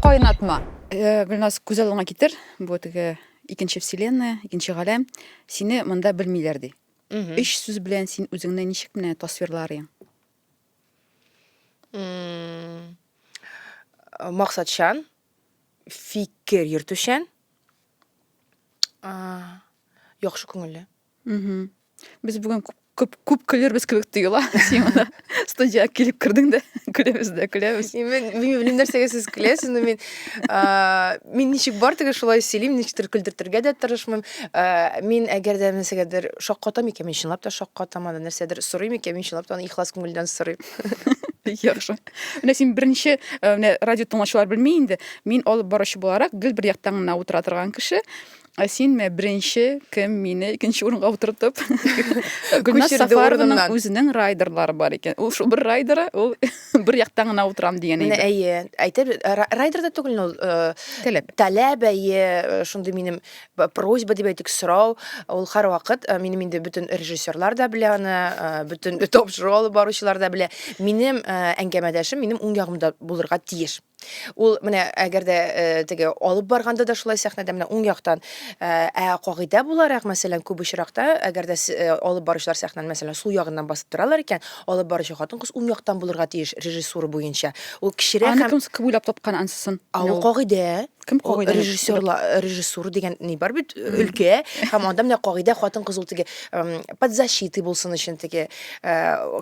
Кайнатма. Э, Гөлназ, күз алдыңа китер. Бу теге икенче вселенная, икенче галәм. Сине монда белмиләр ди. Өч сүз белән син үзеңне ничек менә тасвирларың? М, Максатчан, фикер йөртүчән, а, яхшы күңелле. Без бүген күп күп күп көлербез кебек тоела. Син монда студиягә килеп кердең дә көләбез дә көләбез. Мен белмим нәрсәгә сез көләсез, но мин мин ничек бар теге шулай сөйлим, ничектер көлдертергә дә тырышмыйм. Мин әгәр дә нәрсәгәдер шаккатам икән, мин чынлап та шаккатам аны, нәрсәдер сорыйм икән, мин чынлап та аны ихлас күңелдән сорыйм. Яхшы. Менә син беренче менә радио тыңлаучылар белми инде. Мин алып баручы буларак гел бер яктан гына утыра торган кеше. Ә син менә беренче кем мине икенче урынга утыртып Гөлназ Сафарованың үзенең райдерлары бар икән. Ул шул бер райдеры, ул бер яктан гына утырам дигән иде. Менә әйе. Әйтеп райдер да түгел ул э, таләп. Таләп әйе, э, шундый минем просьба дип әйтик, сорау. Ул һәрвакыт э, минем инде бөтен режиссерлар да белә аны, бөтен топшыру алып баручылар да белә. Минем әңгәмәдәшем минем уң ягымда булырга тиеш. Ул менә әгәр дә э, теге алып барганда да шулай сәхнәдә менә уң яктан э, ә кагыйдә буларак мәсәлән күп очракта әгәр дә с- э, алып баручылар сәхнәне мәсәлән сул ягыннан басып торалар икән алып баручы хатын кыз уң яктан булырга тиеш режиссура буенча ул кечерәк Аны һәм кем с- кем уйлап тапкан ансысын? а ул кагыйдә Кем кагыйдә? Режиссер, режиссура дигән ни бар бит өлкә, һәм анда менә кагыйдә хатын кыз ул теге под защитой булсын өчен теге э,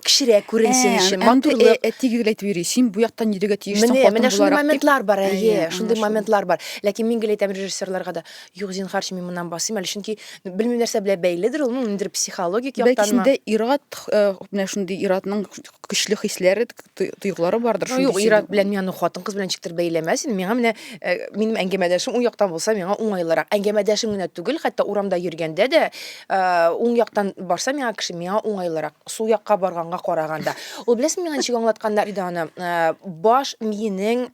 кечерәк күренсен э, өчен матурлык. Э, Әти гел әйтеп йөри, син бу яктан нидәгә тиештең хатын буларак. Менә шундый моментлар бар, әйе, шундый моментлар бар. Ләкин мин гел әйтәм режиссерларга да, юк, зинхарчы, мин моннан басыйм әле, чөнки белмим нәрсә белән бәйледер ул, ниндидер психологик яктан. Бәлки синдә ират, менә шундый иратның көчле хисләре, тойгылары бардыр. Ну, юк, ират белән мин аны хатын-кыз белән ничектер бәйләмәс инде. Миңа менә э, минем әңгәмәдәшем уң яктан булса, миңа уңайлырак. Әңгәмәдәшем генә түгел, хәтта урамда йөргәндә дә э, уң яктан барса миңа кеше миңа уңайлырак. Сул якка барганга караганда. Ул беләсең миңа ничек аңлатканнар иде аны? Э, баш миенең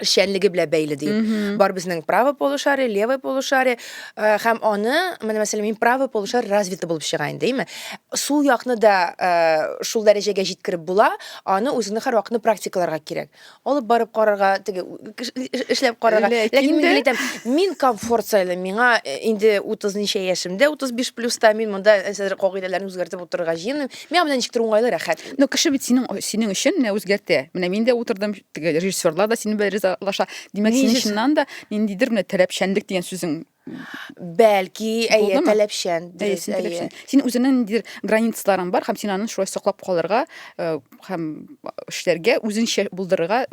эшчәнлеге белән бәйле ди. Бар безнең правый полушарие, левый полушарие э, һәм аны, менә мәсәлән, мин правый полушарие развиты булып чыга инде, әйме? Сул якны да э, шул дәрәҗәгә җиткереп була, аны үзеңне һәрвакытны практикаларга кирәк. Алып барып карарга, теге эшләп карарга. Ләкин мин әйтәм, мин комфорт сайлыйм. Миңа э, инде 30 ничә яшемдә, 35 плюста мин монда әсәр кагыйдәләрен үзгәртеп утырырга җыенмыйм. Миңа менә ничектер уңайлы, рәхәт. Ну, кеше бит синең синең өчен менә үзгәртә. Менә мин дә утырдым, теге режиссерлар да сине белән ризалаша димәк син чыннан да ниндидер менә таләпчәнлек дигән сүзең бәлки әйе таләпчән дөрес әйе син үзеңнең ниндидер границаларың бар һәм син аны шулай саклап калырга э, һәм эшләргә үзеңчә булдырырга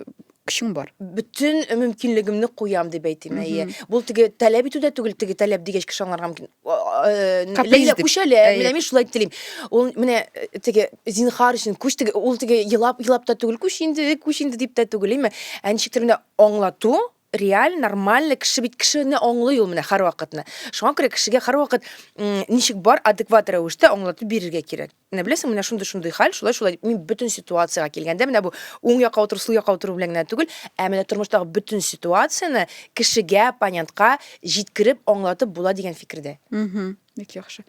көчең бар бөтен мөмкинлегемне куям дип әйтим әйе бул теге таләп итү дә түгел теге таләп дигәч кеше аңларга мөмкин Ләйлә күчә лә, менә мин шулай телим. Ул менә теге зинхар өчен күч теге ул теге елап елап та түгел, күч инде, күч инде дип тә түгел, име? Ә ничектер менә аңлату реаль, нормаль кеше бит кешене аңлый ул менә һәрвакытны. Шуңа күрә кешегә һәрвакыт ничек бар адекват рәвештә аңлатып бирергә кирәк. Менә беләсең, менә шундый-шундый хәл, шулай-шулай дип, мин бөтен ситуациягә килгәндә, менә бу уң якка утыру, сул якка утыру белән генә түгел, ә менә тормыштагы бөтен ситуацияне кешегә, оппонентка җиткереп, аңлатып була дигән фикердә. Мгм. Бик яхшы.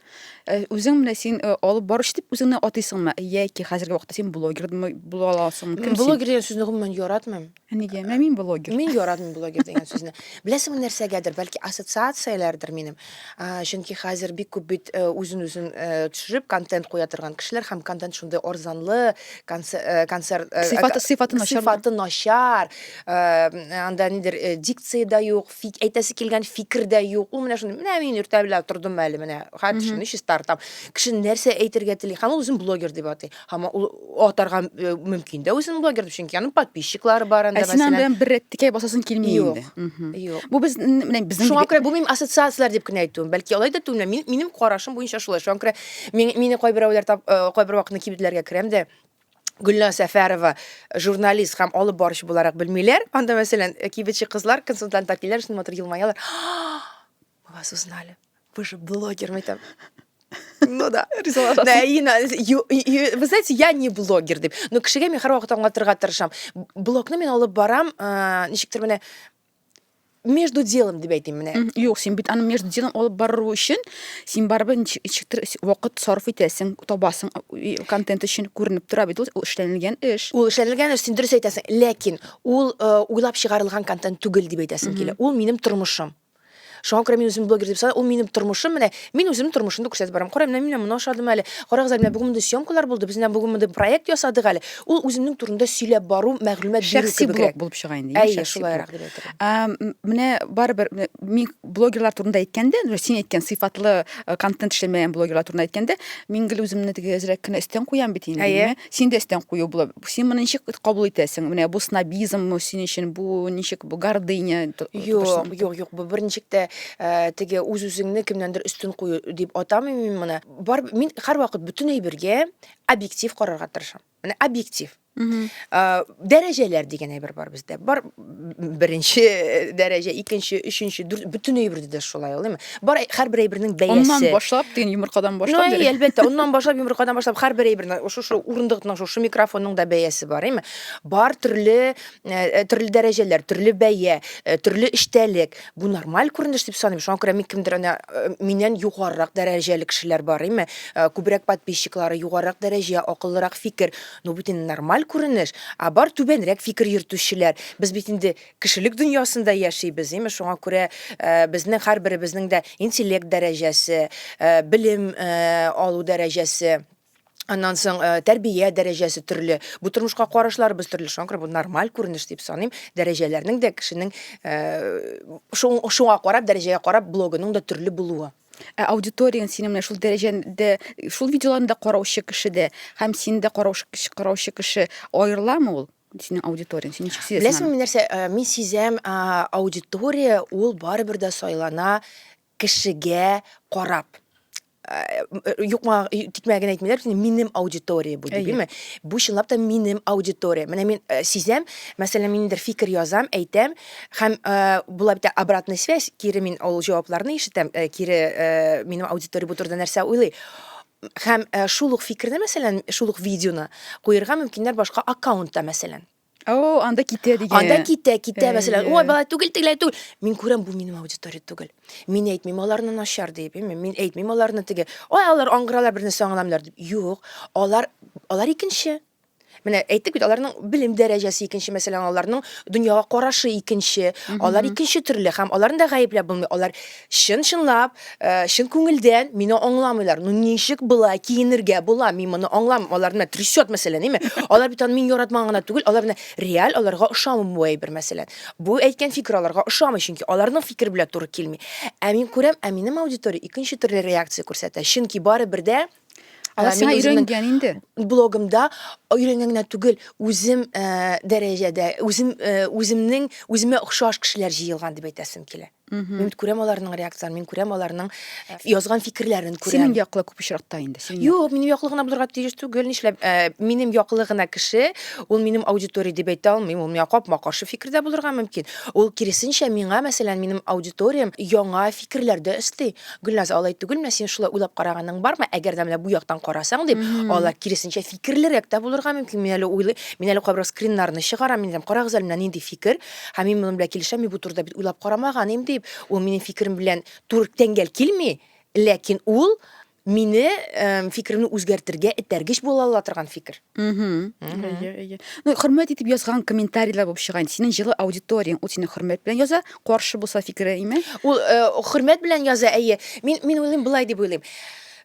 Э, Үзең менә син э, алып баручы дип үзеңне атыйсыңмы? Яки хәзерге вакытта син блогер димы- була аласыңмы? Мин Кем син? блогер дигән сүзне гомумән яратмыйм. Ә нигә? Менә мин блогер. Мин яратмыйм блогер дигән сүзне. Беләсеңме нәрсәгәдер, бәлки ассоциацияләрдер минем. А, Чөнки хәзер бик күп бит э, үзен-үзен э, төшереп контент куя торган кешеләр һәм контент шундый арзанлы, конце- э, концерт э, Сыйфаты- э, сыйфаты начар. сыйфаты начар. Э, Анда нидер э, дикция дә юк, фик- әйтәсе килгән фикер дә юк. Ул менә шундый, менә мин иртә белән тордым әле менә. Хәтер Мгм. шуны чистартам. Кеше нәрсә әйтергә тели һәм ул үзен блогер дип атый. Һәм ул атарга э, мөмкин дә үзен блогер дип, чөнки аның подписчиклары бар анда, Ә син анда мәсәлән. бер рәт текәй басасын килми Юк, инде. Мгм. Юк. Бу без н- менә безнең Шуңа күрә бу минем ассоциацияләр дип кенә әйтүем. Бәлки алай да түгел, мин, минем карашым буенча шулай. Шуңа күрә мин, мине кайберәүләр тап, э, кайбер вакытны кибетләргә керәм дә Гөлназ Сәфәрова э, журналист һәм алып баручы буларак белмиләр. Анда мәсәлән э, кибетче кызлар консультант киләр, шуны матур елмаялар. Мы вас узнали. Вы же блогер, мы там... Ну да. Вы знаете, я не блогер деп. Но кешегә мин һәрвакыт аңлатырга тырышам. Блогны мин алып барам, э, ничектер менә между делом дип әйтим менә. Юк, син бит аны между делом алып бару өчен син барыбер ничектер вакыт сарыф итәсең, табасың контент өчен күренеп тора бит ул эшләнелгән эш. Ул эшләнелгән эш, син дөрес әйтәсең, ләкин ул э, уйлап чыгарылган контент түгел дип әйтәсем килә. Ул минем тормышым. Шуңа күрә мин үзем блогер дип саныйм. Ул минем тормышым менә. Мин үзем тормышымны күрсәтеп барам. Кара, менә мин моны ашадым әле. Карагыз әле, менә бүген мондый съемкалар булды. Без менә бүген мондый проект ясадык әле. Ул үземнең турында сөйләп бару, мәгълүмат бирү кебегрәк. Шәхси блог булып чыга инде. Әйе, шулайрак дип әйтәм. Менә барыбер мин блогерлар турында әйткәндә, син әйткән сыйфатлы контент эшләмәгән блогерлар турында әйткәндә, мин гел үземне теге әзрәк кенә өстән куям бит инде. Син дә өстән кую булып, син моны ничек кабул итәсең? Менә бу снобизммы син өчен, бу ничек бу гордыня? Юк, юк, юк, бу берничек тә э, теге үз-үзеңне кемнәндер өстен кую дип атамыйм мин моны. Бар мин һәрвакыт бөтен әйбергә объектив карарга тырышам. Менә объектив. Э, Дәрәҗәләр дигән әйбер бар бездә. Бар беренче дәрәҗә, икенче, өченче, дүрт, бөтен әйбердә дә шулай ул, әйме? Бар һәрбер әйбернең бәясе. Оннан башлап, дигән йомыркадан башлап. Ну, әлбәттә, оннан башлап, йомыркадан башлап, һәрбер әйбернең, шушы урындыкның, шушы микрофонның да бәясе бар, әйме? Бар төрле, э, төрле дәрәҗәләр, төрле бәя, э, төрле эчтәлек. Бу нормаль күренеш дип саныйм. Шуңа күрә мин кемдер ана э, миннән югарырак дәрәҗәле кешеләр бар, әйме? Күбрәк подписчиклары, югарырак дәрәҗә, акыллырак фикер. Ну бит инде нормаль күренеш, ә бар түбәнрәк фикер йөртүчеләр. Без бит инде кешелек дөньясында яшибез, димме, шуңа күрә безнең һәрберебезнең дә интеллект дәрәҗәсе, белем алу дәрәҗәсе, аннан соң тәрбия дәрәҗәсе төрле, бу тормышка карашларыбыз төрле, шуңа күрә бу нормаль күренеш дип саныйм, дәрәҗәләрнең дә кешенең шуңа карап, дәрәҗәгә карап блогының да төрле булуы. Ә аудиторияң синең менә шул дәрәҗәдә, шул видеоларны да караучы кеше дә һәм син дә караучы кеше, караучы кеше аерыламы ул? Синең аудиторияң, син ничек сизәсең? Беләсең мин нәрсә, э, мин сизәм, а, аудитория ул барыбер дә сайлана кешегә карап. Э, юкма э, тикмә генә әйтмиләр бит минем аудитория бу дибеме бу чынлап та минем аудитория менә мин э, сизәм мәсәлән мин ниндидер фикер язам әйтәм Һәм э, була бит обратная связь, кире мин ул җавапларны ишетәм, э, кире э, минем аудитория бу турыда нәрсә уйлый. Һәм э, шул ук фикерне, мәсәлән, шул ук видеоны куерга мөмкиннәр башка аккаунтта, мәсәлән. О, анда китә дигән. Анда китә, китә, мәсәлән, ой, бала түгел, тегеләй түгел. Мин күрәм, бу минем аудитория түгел. Мин әйтмим аларны начар дип, әйме, мин әйтмим аларны теге. Ой, алар аңгыралар бернәрсә аңламыйлар дип. Юк, алар алар икенче. Менә әйттек бит, аларның белем дәрәҗәсе икенче, мәсәлән, аларның дөньяга карашы икенче, алар икенче төрле һәм аларны да гаепләп булмый. Алар чын-чынлап, э, чын күңелдән мине аңламыйлар. Ну ничек болай киенергә була? Мин моны аңламыйм. Алар менә трясет, мәсәлән, әйме? Алар бит аны мин яратмаган гына түгел, алар менә реаль аларга ошамый бу әйбер, мәсәлән. Бу әйткән фикер аларга ошамый, чөнки аларның фикер белән туры килми. Ә мин күрәм, ә минем аудитория икенче төрле реакция күрсәтә. Чөнки барыбер дә Алар сиңа өйрәнгән инде. Блогымда өйрәнгән генә түгел, үзем э, дәрәҗәдә, үзем э, үземнең үземә охшаш кешеләр җыелган дип әйтәсем килә. Мин күрәм аларның реакцияләрен, мин күрәм аларның э, язган фикерләрен күрәм. Синең яклы күп очракта инде. Синең Юк, минем яклы гына булырга тиеш түгел. Нишләп, э, минем яклы гына кеше, ул минем аудитория дип әйтә алмыйм, ул миңа капма-каршы фикердә булырга мөмкин. Ул киресенчә миңа, мәсәлән, минем аудиториям яңа фикерләрдә өсти. Гөлназ, алай түгелме, син шулай уйлап караганың бармы, әгәр дә менә бу яктан карасаң дип, алар киресенчә фикерлерәк тә булырга мөмкин. Мин әле уйлыйм, мин әле кайбер скриннарны чыгарам, мин әйтәм, карагыз әле, менә нинди фикер, һәм мин моның белән килешәм, мин бу турыда бит уйлап карамаган идем дип, ул минем фикерем белән туры тәңгәл килми, ләкин ул мине фикеремне үзгәртергә этәргеч була ала торган фикер. Әйе, әйе. Ну, хөрмәт итеп язган комментарийлар булып чыга инде. Синең җылы аудиторияң, ул сине хөрмәт белән яза, каршы булса фикере име? Ул э, хөрмәт белән яза, әйе. Мин мин уйлыйм былай дип уйлыйм.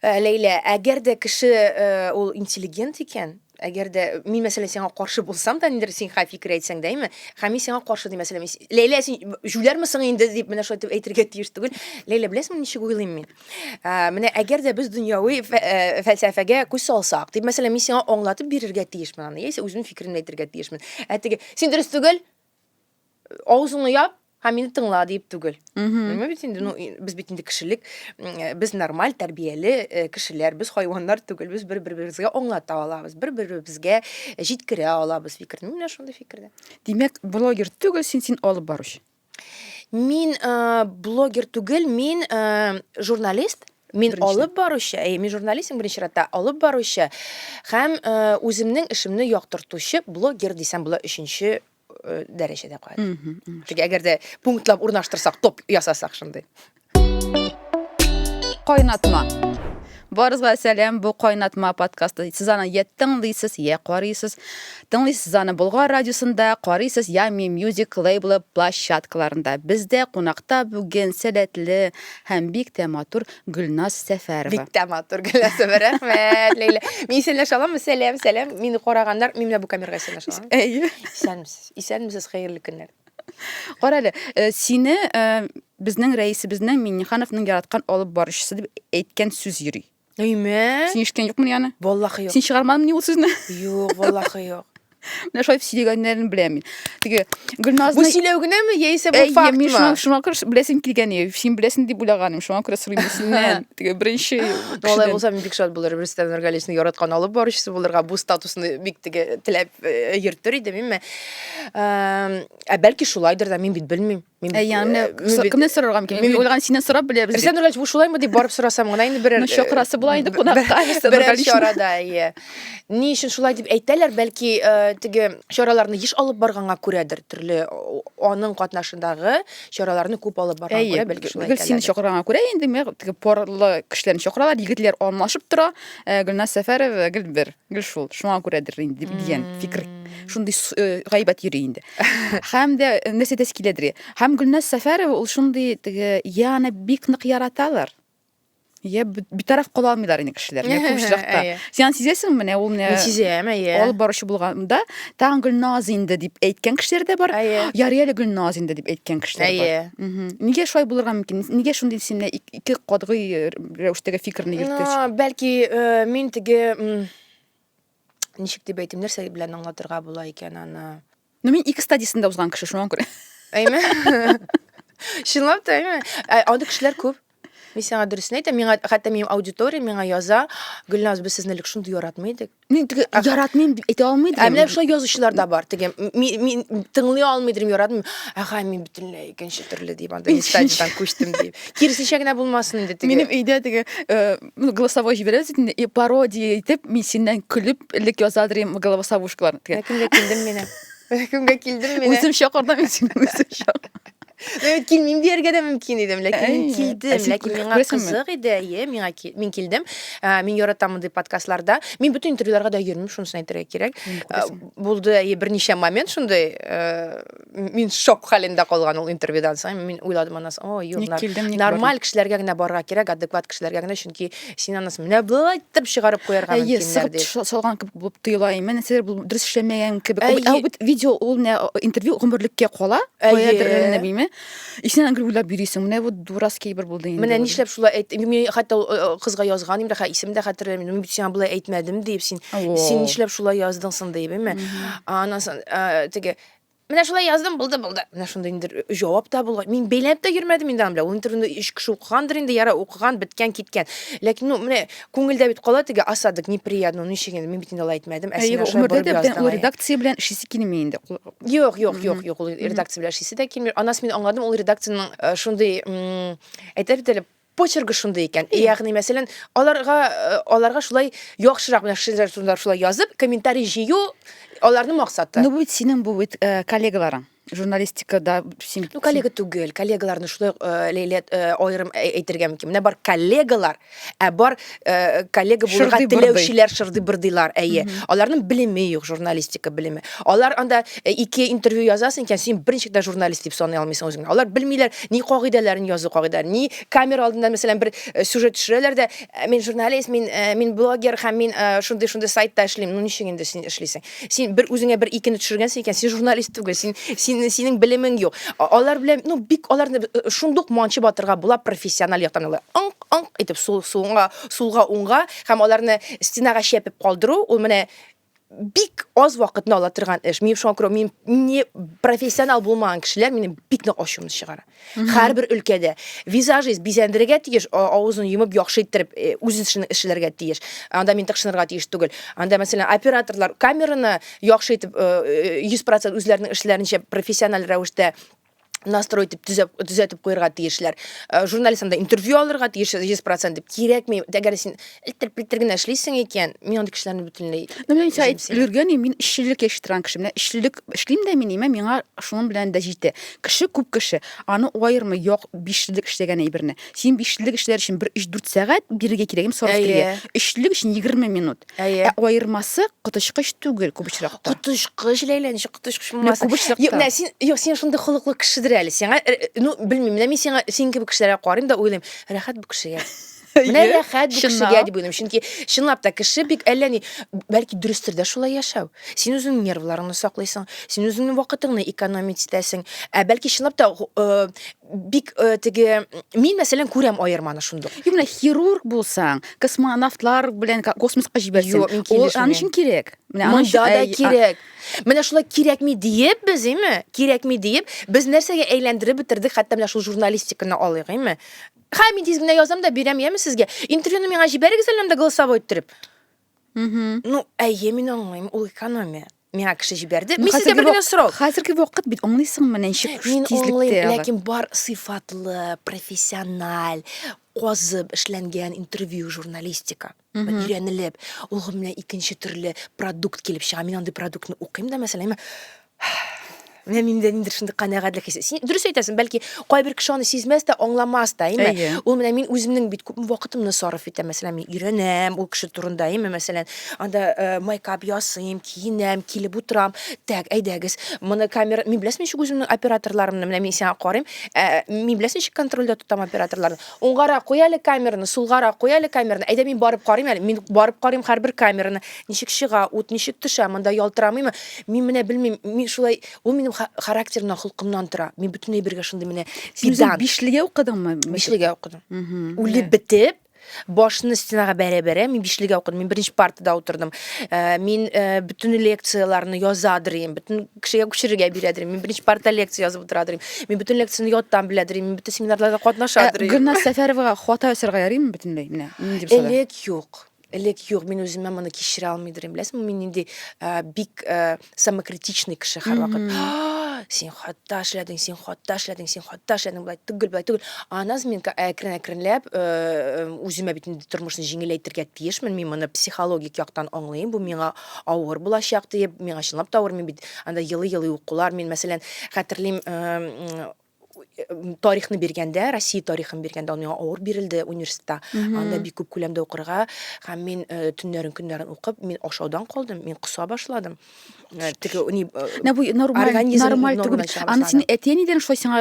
Э, Ләйлә, әгәр дә кеше э, ул интеллигент икән, әгәр дә мин мәсәлән сиңа каршы булсам да, ниндер син хай фикер әйтсәң дә, әйме? Һәм мин сиңа каршы дим, мәсәлән, мин, Ләйлә, син җүләрме соң инде дип менә шулай итеп әйтергә тиеш түгел. Ләйлә, беләсеңме ничек уйлыйм мин? Ә, менә әгәр дә без дөньяви фә- ә, фәлсәфәгә күз салсак, дип, мәсәлән, мин сиңа аңлатып бирергә тиешмен аны, яисә үземнең фикеремне әйтергә тиешмен. Ә теге, син дөрес түгел, авызыңны яп һәм мине тыңла дип түгел. Мгм. Белмәм бит инде, ну, и- без бит инде кешелек, м, э, без нормаль, тәрбияле э, кешеләр, без хайваннар түгел, без бер-беребезгә аңлата алабыз, бер-беребезгә җиткерә алабыз фикерне. Мин менә шундый фикердә. Димәк, блогер түгел, син син алып баручы. Мин э, блогер түгел, мин э, журналист. Мин Беренче. алып баручы, әй, мин журналистым беренче чиратта, алып баручы һәм э, үземнең эшемне яктыртучы блогер дисәм була өченче э, дәрәҗәдә куәт. Мгм, мгм. Теге әгәр дә пунктлап урнаштырсак, топ ясасак шундый. Кайнатма. Барызга сәлам, бу кайнатма подкасты. Сез аны я тыңлыйсыз, я карыйсыз. Тыңлыйсыз аны Болгар радиосында, карыйсыз я Mi Music лейблы площадкаларында. Бездә кунакта бүген сәләтле һәм бик тә матур Гөлназ Сәфәрова. Бик тә матур Гөлназ Сәфәрова. Рәхмәт, Ләйлә. Мин исәнләшә аламмы? Сәлам, сәлам. Мине караганнар, мин менә бу камерага исәнләшә аламмы? Әйе. Исәнмесез. Исәнмесез, хәерле көннәр. Кара әле, э, сине э, безнең рәисебезнең Миннехановның яраткан алып баручысы дип әйткән сүз йөри. Әйме? Син ишеткән юкмыни аны? Валлахи юк. Син чыгармадыңмыни ул сүзне? Юк, валлахи юк. Менә шулай сөйләгәннәрен беләм мин. Теге Гөлназны Бу сөйләү генәме яисә бу факт мин шуңа, шуңа күрә беләсең килгән ие. Син беләсең дип уйлаганым. Шуңа күрә сорыйм синнән. Теге беренче. Алай булса мин бик шат булыр. Рөстәм Нургалиевны яраткан алып баручысы булырга бу статусны бик теге теләп э, йөртер идем инде. Ә бәлки шулайдыр да, мин бит белмим. Мин бит, Әйәне э, мин бит- кемнән сорарга мөмкин? мин Мин бит- уйлаган синнән сорап беләбез. Рәсән Нурлаевич, бу шулаймы дип барып сорасам гына инде берәр Ну, чакырасы була инде кунакка. Рәсән берәр Нургалиевна. чарада, әйе. Ни өчен шулай дип әйтәләр, бәлки э, теге чараларны еш алып барганга күрәдер, төрле о- аның катнашындагы чараларны күп алып барганга Әйе, күрә бәлки шулай гел сине әйтәләр. чакырганга күрә инде мә- теге парлы кешеләрне чакыралар, егетләр алмашып тора. Ә, Гөлназ Сәфәров э, гел бер. Гел шул, шуңа күрәдер инде дигән фикер шундый э, гайбәт йөри инде. Һәм дә э, нәрсә дәс киләдер. Һәм Гөлназ Сәфәрова ул шундый теге я аны бик нык яраталар. Я битараф кала алмыйлар инде кешеләр. Менә күп очракта. Син сизәсең менә ул менә. Сизәм, әйе. Алып баручы булганда тагын Гөлназ инде дип әйткән кешеләр дә бар. Ярый әле Гөлназ инде дип әйткән кешеләр бар. Әйе. Нигә шулай булырга мөмкин? Нигә шундый исемне ике катгый э, рәвештәге фикерне йөрткәч. Ну, бәлки э, мин теге м, ничек дип әйтим, нәрсә белән аңлатырга була икән аны. Ну мин ике стадиясен дә узган кеше шуңа күрә. Әйме? Чынлап та, әйме? Ә, Анда кешеләр күп. Мин сиңа дөресен әйтәм, миңа хәтта минем аудитория миңа яза, Гөлназ, без сезне элек шундый яратмый идек. Мин теге яратмыйм дип әйтә алмый идем. Ә менә шулай язучылар да бар. Теге мин тыңлый алмый идем, яратмыйм. Ага, мин бөтенләй икенче төрле дип анда стадиядан күчтем дип. Киресенчә генә булмасын инде теге. Минем өйдә теге э, ну, голосовой җибәрәбез инде, и пародия итеп, мин синнән көлеп, элек язадыр идем головосовушкаларны. Кемгә килдем мин? Кемгә килдем мин? Үзем чакырдым мин сине, үзем чакырдым. Мин килмим дияргә дә мөмкин идем, ләкин мин килдем. Ләкин миңа кызык иде, әйе, миңа мин килдем. Мин яратам мондый подкастларда. Мин бөтен интервьюларга да йөрмим, шунысын әйтергә кирәк. Булды, әйе, берничә момент шундый. Мин шок хәлендә калган ул интервьюдан соң. Мин уйладым аннан соң, о, юк, нормаль кешеләргә генә барырга кирәк, адекват кешеләргә генә, чөнки Син анысы менә болай итеп чыгарып куярга Әйе, мөмкиннәр сыгып дип. тыш- салган кебек булып тоела. Әмма нәрсәдер бу дөрес эшләмәгән кебек. Әйе. Ә бит видео ул не интервью гомерлеккә кала. Әйе. Каядыр генә бими. Исенә гел уйлап йөрисең. Менә бу дурацкий бер булды инде. Менә бу. нишләп шулай әйт. Мин хәтта ул, э, кызга язган инде, хә исем дә хәтерләмим. Мин бит сиңа болай әйтмәдем дип син. О. Син нишләп шулай яздың соң дип, әйме? Аннан соң э, теге Менә шулай яздым, булды, булды. Менә шундый инде җавап та булган. Мин бәйләнеп тә йөрмәдем инде аны белән. Ул интервьюны өч кеше укыгандыр инде, яра укыган, биткән, киткән. Ләкин ну менә күңелдә бит кала теге осадок неприятно, ну ничек инде мин бит инде алай әйтмәдем. Ә син шулай борып яздың. Ул редакция белән эшлисе килми инде. Юк, юк, юк, юк, ул редакция белән эшлисе дә килми. Анасы мин аңладым, ул редакциянең э, шундый әйтә бит әле почеркы шундый икән. Э, ягъни, мәсәлән, аларга э, аларга шулай яхшырак менә шулар турында шулай язып, комментарий җыю аларның максаты. Ну, бит синең бу бит э, коллегаларың. Журналистикада син Ну, коллега түгел, коллегаларны шулай э, ләйлә э, аерым әй- әйтергә мөмкин. Менә бар коллегалар, ә бар Э, коллега булырга теләүчеләр шырдый-бырдыйлар, әйе. Аларның белеме юк, журналистика белеме. Алар анда э, ике интервью язасың икән, син берничек тә журналист дип саный алмыйсың үзеңне. Алар белмиләр ни кагыйдәләрен язу кагыйдәләрен, ни камера алдында, мәсәлән, бер э, сюжет төшерәләр дә, мин журналист, мин мин блогер һәм мин шундый шундый сайтта эшлим. Ну ничек инде син эшлисең? Син бер үзеңә бер икене төшергәнсең икән, син журналист түгел, син син синең белемең юк. Алар белән, ну бик аларны шундук манчып атырга була профессиональ яктан. Алар аңк итеп сул, сулга, сулга, уңга һәм аларны стенага чәпеп калдыру, ул менә бик аз вакытны ала торган эш. Мин шуңа күрә мин не профессионал булмаган кешеләр минем бик нык ачуымны чыгара. Һәрбер өлкәдә визажист бизәндерергә тиеш, авызын йомып яхшы иттереп э, үз эшен эшләргә тиеш. Анда мин тыкшынырга тиеш түгел. Анда мәсәлән операторлар камераны яхшы итеп 100% э, э, үзләренең эшләренчә профессиональ рәвештә настрой итеп төзәп төзәтеп куярга тиешләр э, журналист анда интервью алырга тиеш йөз процент дип кирәкми әгәр син элтер пелтер генә эшлисең икән мин андый кешеләрне бөтенләй ну мин сәй өлгергән мин эшчелек яши торган кеше менә эшчелек эшлим дә мин имә миңа шуның белән дә җитә кеше күп кеше аны аермы як бишлек эшләгән әйберне син бишлек эшләр өчен бер өч дүрт сәгать бирергә кирәк им сораш кирәк өчлек өчен егерме минут Әйе. Ә аермасы коточкыч түгел күп очракта. Коточкыч Ләйлә, ничек коточкыч булмасын? күп очракта. Юк, менә син, юк, син шундый холыклы кешедер әле. Сиңа, э, э, ну, белмим, менә мин сиңа, син кебек кешеләргә карыйм да уйлыйм, рәхәт бу кешегә. Менә рәхәт бу кешегә дип уйлыйм. Чөнки чынлап та кеше бик әллә ни, бәлки дөрестер дә шулай яшәү. Син үзеңнең нервларыңны саклыйсың, син үзеңнең вакытыңны экономить итәсең. Ә бәлки чынлап та э, бик э, теге мин мәсәлән күрәм аерманы шундук юк менә хирург булсаң космонавтлар белән космоска җибәрсәң юк мин килешмим аны өчен кирәк менә аны өчен да кирәк менә шулай кирәкми диеп без име кирәкми диеп без нәрсәгә әйләндереп бетердек хәтта менә шул журналистиканы алыйк име ха мин тиз генә язам да бирәм яме сезгә интервьюны миңа җибәрегез әле анда голосовой иттереп Мгм. Ну, әйе, мин аңлыйм, ул экономия. Миңа кеше җибәрде. Ну, Мин сезгә хәзерге бер генә вак- сорау. Хәзерге вакыт бит аңлыйсыңмы ничек Мин аңлыйм, тизлектә алар. ләкин бар сыйфатлы, профессиональ, казып эшләнгән интервью журналистика. Бер Мгм. Өйрәнелеп, ул менә икенче төрле продукт килеп чыга. Мин андый продуктны укыйм да, мәсәлән, мә- менә миндә ниндидер шундый канәгатьлек хисе син дөрес әйтәсең бәлки кайбер кеше аны сизмәс тә аңламас та әйме Әйе. ул менә мин үземнең бит күпме вакытымны сарыф итәм мәсәлән мин өйрәнәм ул кеше турында әйме мәсәлән анда э, майкап ясыйм киенәм килеп утырам так әйдәгез моны камера мин беләсең ничек үземнең операторларымны менә мин сиңа карыйм ә, мин беләсең ничек контрольдә тотам операторларны Уңгарак куй әле камераны, сулгарак куй әле камераны. Әйдә мин барып карыйм әле. Мин барып карыйм һәрбер камераны. Ничек чыга, ут ничек төшә, монда ялтырамыймы? Мин менә белмим, мин шулай, ул минем характерымнан, холкымнан тора. Мин бөтенләй бергә шундый менә педант. Бишлегә укыдыңмы? Бишлегә укыдым. Үлеп бетеп, башны стенага бәрә-бәрә, мин бишлегә укыдым. Мин беренче партада утырдым. Э, мин э, бөтен лекцияләрне яза дирим, бөтен кешегә күчерергә бирәдер мин беренче парта лекция язып утырадыр мин бөтен лекцияне яттан беләдер мин бөтен семинарларда катнашадыр ә, гөлназ сәфәровага хата ясарга ярыймы бөтенләй менә нинди булса элек юк элек юк мин үземә моны кичерә алмыйдыр беләсеңме мин нинди ә, бик ә, самокритичный кеше һәрвакыт син хатта эшләдең син хатта эшләдең син хатта эшләдең былай түгел былай түгел аннан соң мин әкрен әкренләп үземә бит инде тормышны җиңеләйтергә тиешмен мин моны психологик яктан аңлыйм бу миңа авыр булачак диеп, миңа чынлап та авыр, мин бит анда елый-елый укулар, мин мәсәлән, хәтерлим, тарихны биргәндә, Россия тарихын биргәндә, аны миңа авыр бирелде университетта. Анда бик күп күләмдә укырга, һәм мин э, төннәрен көннәрен укып, мин ашаудан калдым, мин куса башладым. Э, теге ни э, Менә бу нормаль, организм нормаль түгел. нормадан чыга Аны башлады. синең әти-әнидән шулай сиңа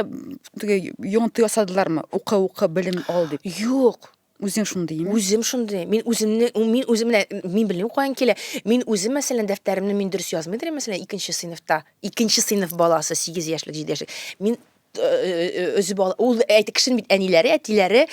теге йонты ясадылармы? Укы, укы, белем ал дип. Юк, Үзең шундый ме? Үзем шундый. Мин үземне мин үзем менә мин белмим каян килә. Мин үзем мәсәлән дәфтәремне мин дөрес язмый дирем мәсәлән икенче сыйныфта. Икенче сыйныф баласы 8 яшьлек 7 яшьлек. Мин э, э, э, өзеп ала. Ул әйтик кешенең бит әниләре, әтиләре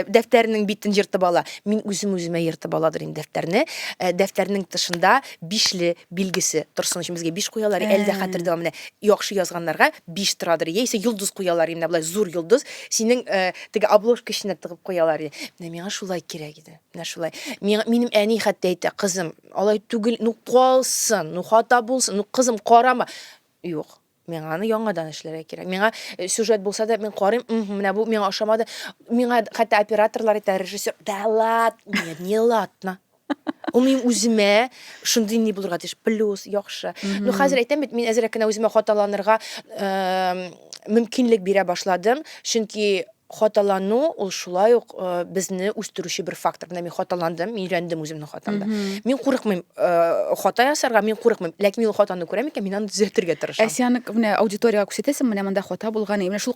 дәфтәрнең битен ертып ала. Мин үзем үземә ертып аладыр инде дәфтәрне. Дәфтәрнең тышында бишле билгесе торсын өчен безгә биш куялар. Әлдә хәтердә менә яхшы язганнарга биш торадыр. Яисә йолдыз куялар инде, булай зур йолдыз. Синең Теге обложка эченә тыгып куялар иде. Менә миңа шулай кирәк иде. Менә шулай. Миңа, минем әни хәтта әйтә, кызым, алай түгел, ну калсын, ну хата булсын, ну кызым карама. Юк, миңа аны яңадан эшләргә кирәк. Миңа э, сюжет булса да, мин карыйм, мхм, менә бу миңа ошамады. Миңа хәтта операторлар әйтә, режиссер, да ладно, не ладно. Ул минем үземә шундый ни булырга тиеш, плюс, яхшы. Ну, хәзер әйтәм бит, мин әзрәк кенә үземә хаталанырга мөмкинлек бирә башладым, чөнки хаталану ул шулай ук безне үстерүче бер фактор. Менә мин хаталандым, мин өйрәндем үземнең хатамда. Мин курыкмыйм хата ясарга, мин курыкмыйм. Ләкин мин хатаны күрәм икән, мин аны төзәтергә тырышам. Ә син менә аудиториягә күрсәтәсең, менә монда хата булган, менә шул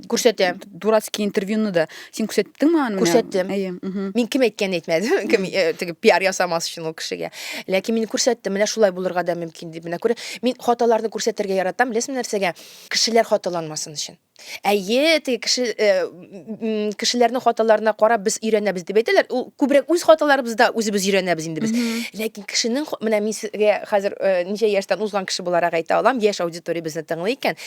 күрсәтәм. Дурацкий интервьюны да. Син күрсәттең миңа аны? Күрсәттем. Әйе. Мин кем әйткәнен әйтмәдем. Кем э, теге пиар ясамас өчен ул кешегә. Ләкин мин күрсәттем, менә шулай булырга да мөмкин дип. Менә күрә, мин хаталарны күрсәтергә яратам, беләсезме нәрсәгә? Кешеләр хаталанмасын өчен. Әйе, теге кеше э, кешеләрнең хаталарына карап без өйрәнәбез дип әйтәләр. Ул күбрәк үз хаталарыбызда үзебез өйрәнәбез инде без. Ләкин кешенең менә мин сезгә хәзер э, ничә яшьтән узган кеше буларак әйтә алам, яшь аудитория безне тыңлый икән.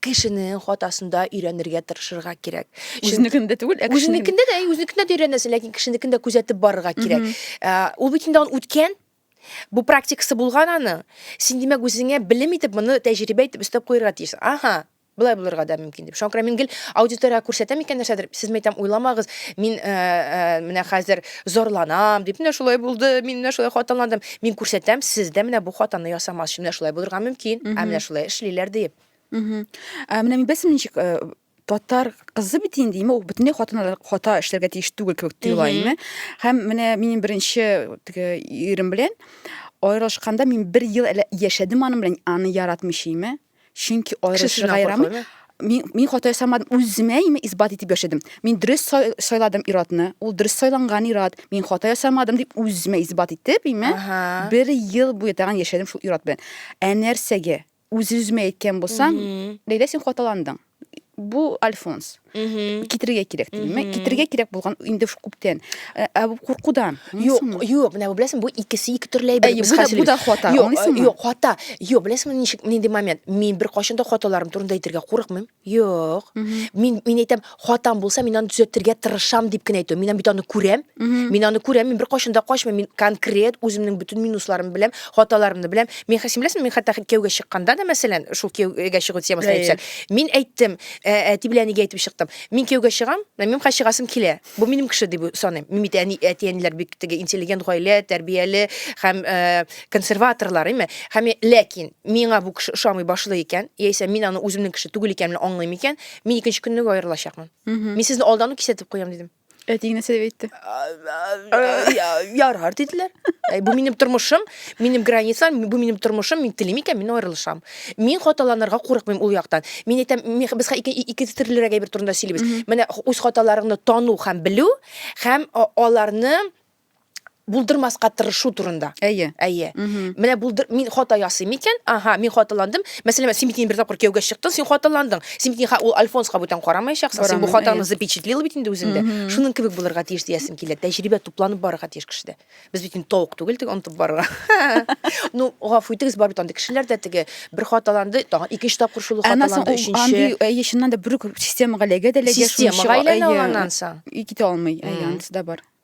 кешенең хатасында өйрәнергә тырышырга кирәк. Үзенекендә түгел, ә кешенең. Үзенекендә дә, үзенекендә дә өйрәнәсең, ләкин кешенекендә күзәтеп барырга кирәк. Э, ул бит инде аны үткән, бу практикасы булган аны. Син димәк үзеңә белем итеп моны тәҗрибә итеп өстәп куярга тиеш. Ага, былай булырга да мөмкин дип. Шуңа мин гел аудиториягә күрсәтәм икән нәрсәдер, сез мәйтәм, уйламагыз, мин э, э, менә хәзер Зарланам, дип, менә шулай булды, мин менә шулай хаталандым. Мин күрсәтәм, сез дә менә бу хатаны ясамас, менә шулай булырга мөмкин, ә менә шулай эшлиләр, дип. Ә менә мин белсем ничек э, татар кызы бит инде име ул бөтенләй хатыннар хата эшләргә тиеш түгел кебек тоела име һәм менә минем беренче теге ирем белән аерылышканда мин бер ел яшәдем аның белән аны яратмыйча име чөнки аерылышырга ярамый мин мин хата ясамадым үземә имә исбат итеп яшәдем мин дөрес сайладым иратны ул дөрес сайланган ират мин хата ясамадым дип үземә исбат итеп имә бер ел буе тагын яшәдем шул ират белән ә нәрсәгә үз үземә әйткән булсам ләйлә син хаталандың бу альфонс китерергә кирәк димме китерергә кирәк булган инде күптән э, ә бу куркудан юк юк менә беләсең бу икесе ике төрле әйбер без хәзер бу да хата аңлыйсыңмы юк хата юк беләсеңме ничек нинди момент мин беркайчан да хаталарым турында әйтергә курыкмыйм юк мин мин әйтәм хатам булса мин аны төзәтергә тырышам дип кенә әйтәм мин бит аны күрәм мин аны күрәм мин беркайчан да качмыйм мин конкрет үземнең бөтен минусларым беләм Хаталарымны беләм. Мин хәсин беләсең, мин хәтта кияүгә чыкканда да, мәсәлән, шул кияүгә чыгу темасын әйтсәк, мин әйттем, әти белән әнигә әйтеп чыктым. Мин кияүгә чыгам, минем хәзер чыгасым килә. Бу минем кеше дип саныйм. Мин бит әни, әти-әниләр бик теге интеллигент гаилә, тәрбияле һәм консерваторлар, әйме? Һәм ләкин миңа бу кеше ошамый башлый икән, яисә мин аны үземнең кеше түгел икәнен аңлыйм икән, мин икенче көнне үк аерылачакмын. Мин сезне алдан ук кисәтеп куям, дидем. Әтиң нәрсә дип әйтте? Ярар диделәр. Әй, бу минем тормышым, минем границам, бу минем тормышым, мин телим икән, мин аерылышам. Мин хаталанырга курыкмыйм ул яктан. Мин әйтәм, мин- без хә- ике, ике төрлерәк әйбер турында сөйлибез. Менә х- үз хаталарыңны тану һәм белү, һәм а- аларны булдырмаска тырышу турында. Әйе. Әйе. Менә булдыр мин хата ясыйм икән, ага, мин хаталандым. Мәсәлән, син бит инде бер тапкыр кияүгә чыктың, син хаталандың. Син бит ул Альфонска бүтән карамаячаксың. Син бу хатаны запечатлил бит инде үзеңдә. Шуның кебек булырга тиеш диясем килә. Тәҗрибә тупланып барырга тиеш кешедә. Без бит инде тавык түгел теге онытып барырга. Ну, гафу итегез, бар бит андый кешеләр дә теге бер хаталанды, тагын икенче тапкыр шул хаталанды, өченче. Андый, әйе, чыннан да бер үк системага эләгә дә эләгә. Системага әйләнә ул аннан соң. И китә алмый. Әйе, анысы да бар.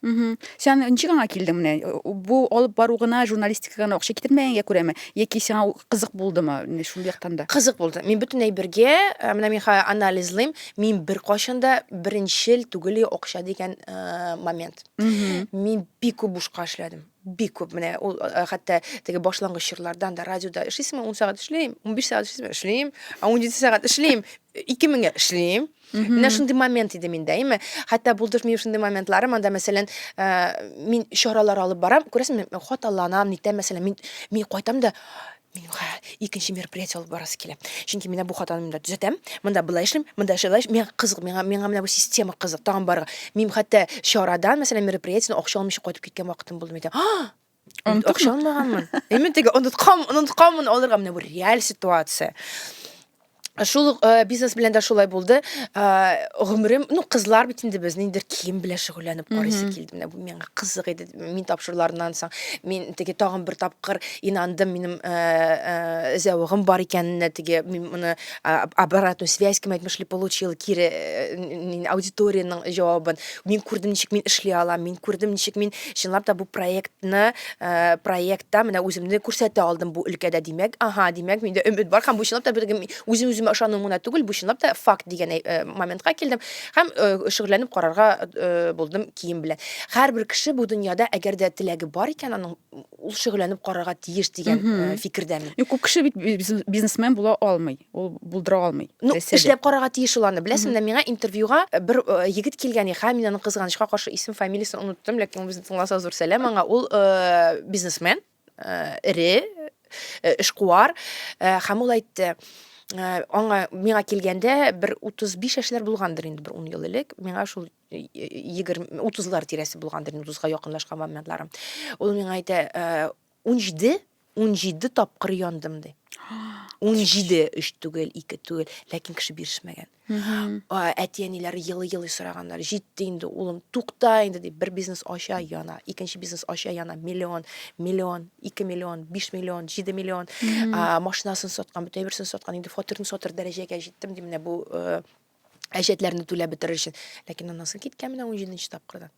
Мгм. Сен ничек аңа килдең менә? Бу алып бару гына, журналистика гына акча китермәгәнгә күрәме? Яки сиңа ул кызык булдымы? Менә шул яктан да. Кызык булды. Мин бөтен әйбергә, ә, менә мин хәзер анализлыйм, мин беркайчан да беренчел түгел и акча дигән, ә, момент. Мгм. Мин бик күп бушка эшләдем. Бик күп. Менә ул, ә, хәтта теге башлангыч чорлардан да радиода эшлисеңме, ун сәгать эшлим, унбиш сәгать эшлисеңме, эшлим, ә унҗиде сәгать эшлим, ике меңгә эшлим. Менә шундый момент иде миндә, әйме? Хәтта булдыр минем шундый моментларым, анда, мәсәлән, э, мин чаралар алып барам, күрәсеңме, мин хаталанам, нитәм, мәсәлән, мин, мин кайтам да, минем хә, икенче мероприятие алып барасы килә. Чөнки менә бу хатаны монда төзәтәм, монда былай эшлим, монда шулай эшлим. Миңа кызык, миңа, миңа менә бу система кызык, тагын барырга. Мин хәтта чарадан, мәсәлән, мероприятиедән акча алмыйча кайтып киткән вакытым булды, мин әйтәм, а, Акча алмаганмын. Ә мин теге оныткан, онытканмын алырга менә бу реаль ситуация. Шул ук э, бизнес белән дә шулай булды. Э, Гомерем, ну кызлар бит инде без ниндидер кием белән шөгыльләнеп карыйсы килде. Менә бу миңа кызык иде. Мин тапшыруларыннан соң мин теге тагын бер тапкыр инандым минем э, э, зәвыгым бар икәненә теге мин моны обратную связь кем әйтмешли получил кире э, аудиториянең җавабын мин күрдем ничек мин эшли алам мин күрдем ничек мин чынлап та бу проектны э, проектта менә үземне күрсәтә алдым бу өлкәдә димәк ага димәк миндә өмет бар һәм бу чынлап та бер үзем үземә ышану гына түгел бу чынлап та факт дигән э, моментка килдем һәм шөгыльләнеп карарга булдым кием белән һәрбер кеше бу дөньяда әгәр дә теләге бар икән аның ул шөгыльләнеп карарга тиеш дигән э, фикердәме ну күп кеше бит бизнесмен була алмый ул булдыра алмый ну эшләп карарга тиеш ул аны беләсеңме миңа интервьюга э, бер э, егет килгән иха мин аның кызганычка каршы исем фамилиясен оныттым ләкин безне тыңласа зур сәлам аңа ул бизнесмен эре эшкуар һәм ул әйтте аңа миңа килгәндә бер 35 яшьләр булгандыр инде бер 10 ел элек миңа шул егерме утызлар тирәсе булгандыр утызга якынлашкан моментларым ул миңа әйтә унҗиде унҗиде тапкыр яндым ди унҗиде өч түгел ике түгел ләкин кеше бирешмәгән әти әниләре елый елый сораганнар җитте инде улым тукта инде дип бер бизнес ача яна икенче бизнес ача яна миллион миллион ике миллион биш миллион җиде миллион машинасын саткан бөтен берсен саткан инде фатирын сатыр дәрәҗәгә җиттем ди менә бу э, әҗәтләрне түләп бетерер өчен. Ләкин анасы киткән менә 17 нче тапкырдан.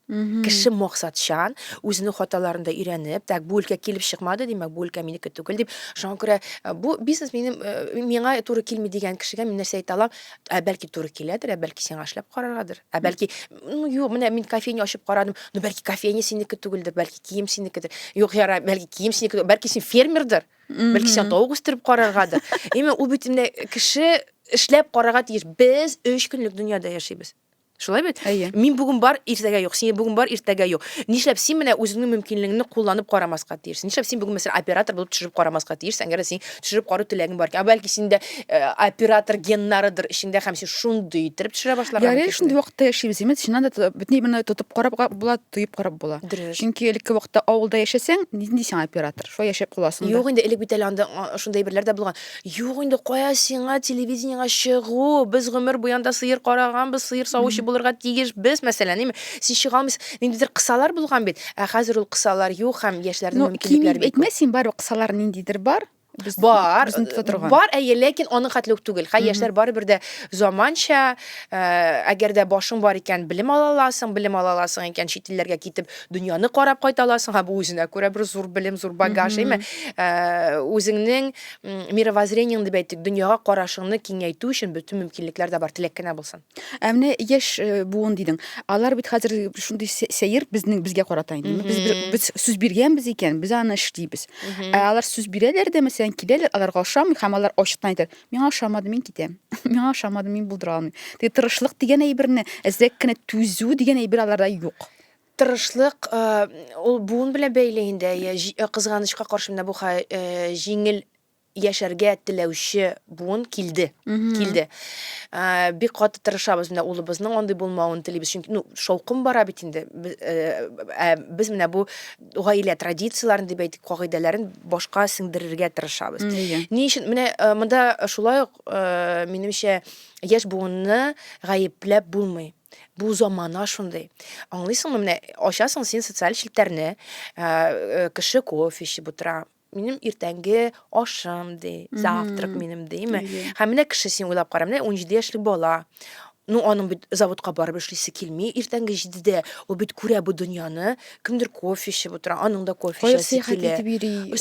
Кеше максатчан, үзенең хаталарын да өйрәнеп, так, бу өлкә килеп чыкмады, димәк, бу өлкә минеке түгел дип, шуңа күрә э, бу бизнес минем э, миңа туры килми дигән кешегә мин нәрсә әйтә алам? Ә бәлки туры киләдер, ә бәлки сиңа эшләп караргадыр. Ә бәлки, ну юк, менә мин кофейня ачып карадым, ну бәлки кофейня синеке түгелдер, бәлки кием синекедер. Юк, яра, бәлки кием синеке, бәлки син фермердыр. бәлки сиңа тавык үстереп караргадыр именно ул бит инде кеше эшләп карарга тиеш без өч көнлек дөньяда яшибез шулай бит әйе мин бүген бар иртәгә юк син бүген бар иртәгә юк нишләп син менә үзеңнең мөмкинлегеңне кулланып карамаска тиешсең нишләп син бүген мәсәлән оператор булып төшереп карамаска тиешсең әгәр син төшереп карау теләгең бар икән ә бәлки синдә Э, оператор геннарыдыр эчеңдә һәм син шундый иттереп төшерә башлаган Ярый икән шундый вакытта яшибез имет чыннан да тотып- бөтен именно тотып карап га- була тоеп карап була Дөрес. чөнки элекке вакытта авылда яшәсәң нинди сиңа оператор шулай яшәп каласың да. Юк инде, элек бит әле анда а, шундый әйберләр дә булган. Юк инде, кая сиңа телевидениегә чыгу? Без гомер буе анда сыер караганбыз, сыер савучы булырга тиешбез, мәсәлән, әйме. Син чыга алмыйсың. Ниндидер кысалар булган бит. Ә хәзер ул кысалар юк һәм яшьләрнең Ну, кими мөмкинлекләре бик күп. әйтмә син барыбер кысалар ниндидер бар Без, бар, безне тота торган. бар, әйе, ләкин аның хәтле үк түгел. Хәй яшьләр барыбер дә заманча, э, әгәр дә башың бар икән, белем ала аласың, белем ала аласың икән, чит илләргә китеп, дөньяны карап кайта аласың. Һәм бу үзенә күрә бер зур белем, зур багаж, әйме? Э, Үзеңнең м, мировоззрениең дип әйтик, дөньяга карашыңны киңәйтү өчен бөтен мөмкинлекләр дә бар, теләк кенә булсын. Ә менә яшь э, буын дидең. Алар бит хәзер шундый сәер безнең безгә карата инде. Без без сүз биргәнбез икән, без аны эшлибез. Ә алар сүз бирәләр дә, мәсәлән, киләләр, аларга ошамый һәм алар ачыктан әйтә, "Миңа ошамады, мин китәм. Миңа ошамады, мин булдыра алмыйм." Теге тырышлык дигән әйберне, әзрәк кенә түзү дигән әйбер аларда юк. Тырышлык э, ул буын белән бәйле инде. Кызганычка каршы менә бу җиңел яшәргә теләүче буын килде. Килде. Бик каты тырышабыз менә улыбызның андый булмавын телибез. Чөнки ну шаукым бара бит инде. Ә без менә бу гаилә традицияләрен дип әйтик, кагыйдәләрен башка сеңдерергә тырышабыз. Ни өчен менә монда шулай ук минемчә яшь буынны гаепләп булмый. Бу замана шундый. Аңлыйсыңмы, менә ачасың син социаль челтәрне, кеше кофе эчеп утыра, минем иртәнге ашым ди завтрак минем дими һәм менә кеше син уйлап кара менә унҗиде яшьлек бала ну аның бит заводка барып эшлисе килми иртәнге җидедә ул бит күрә бу дөньяны кемдер кофе эчеп утыра аның да кофе эчәсе килә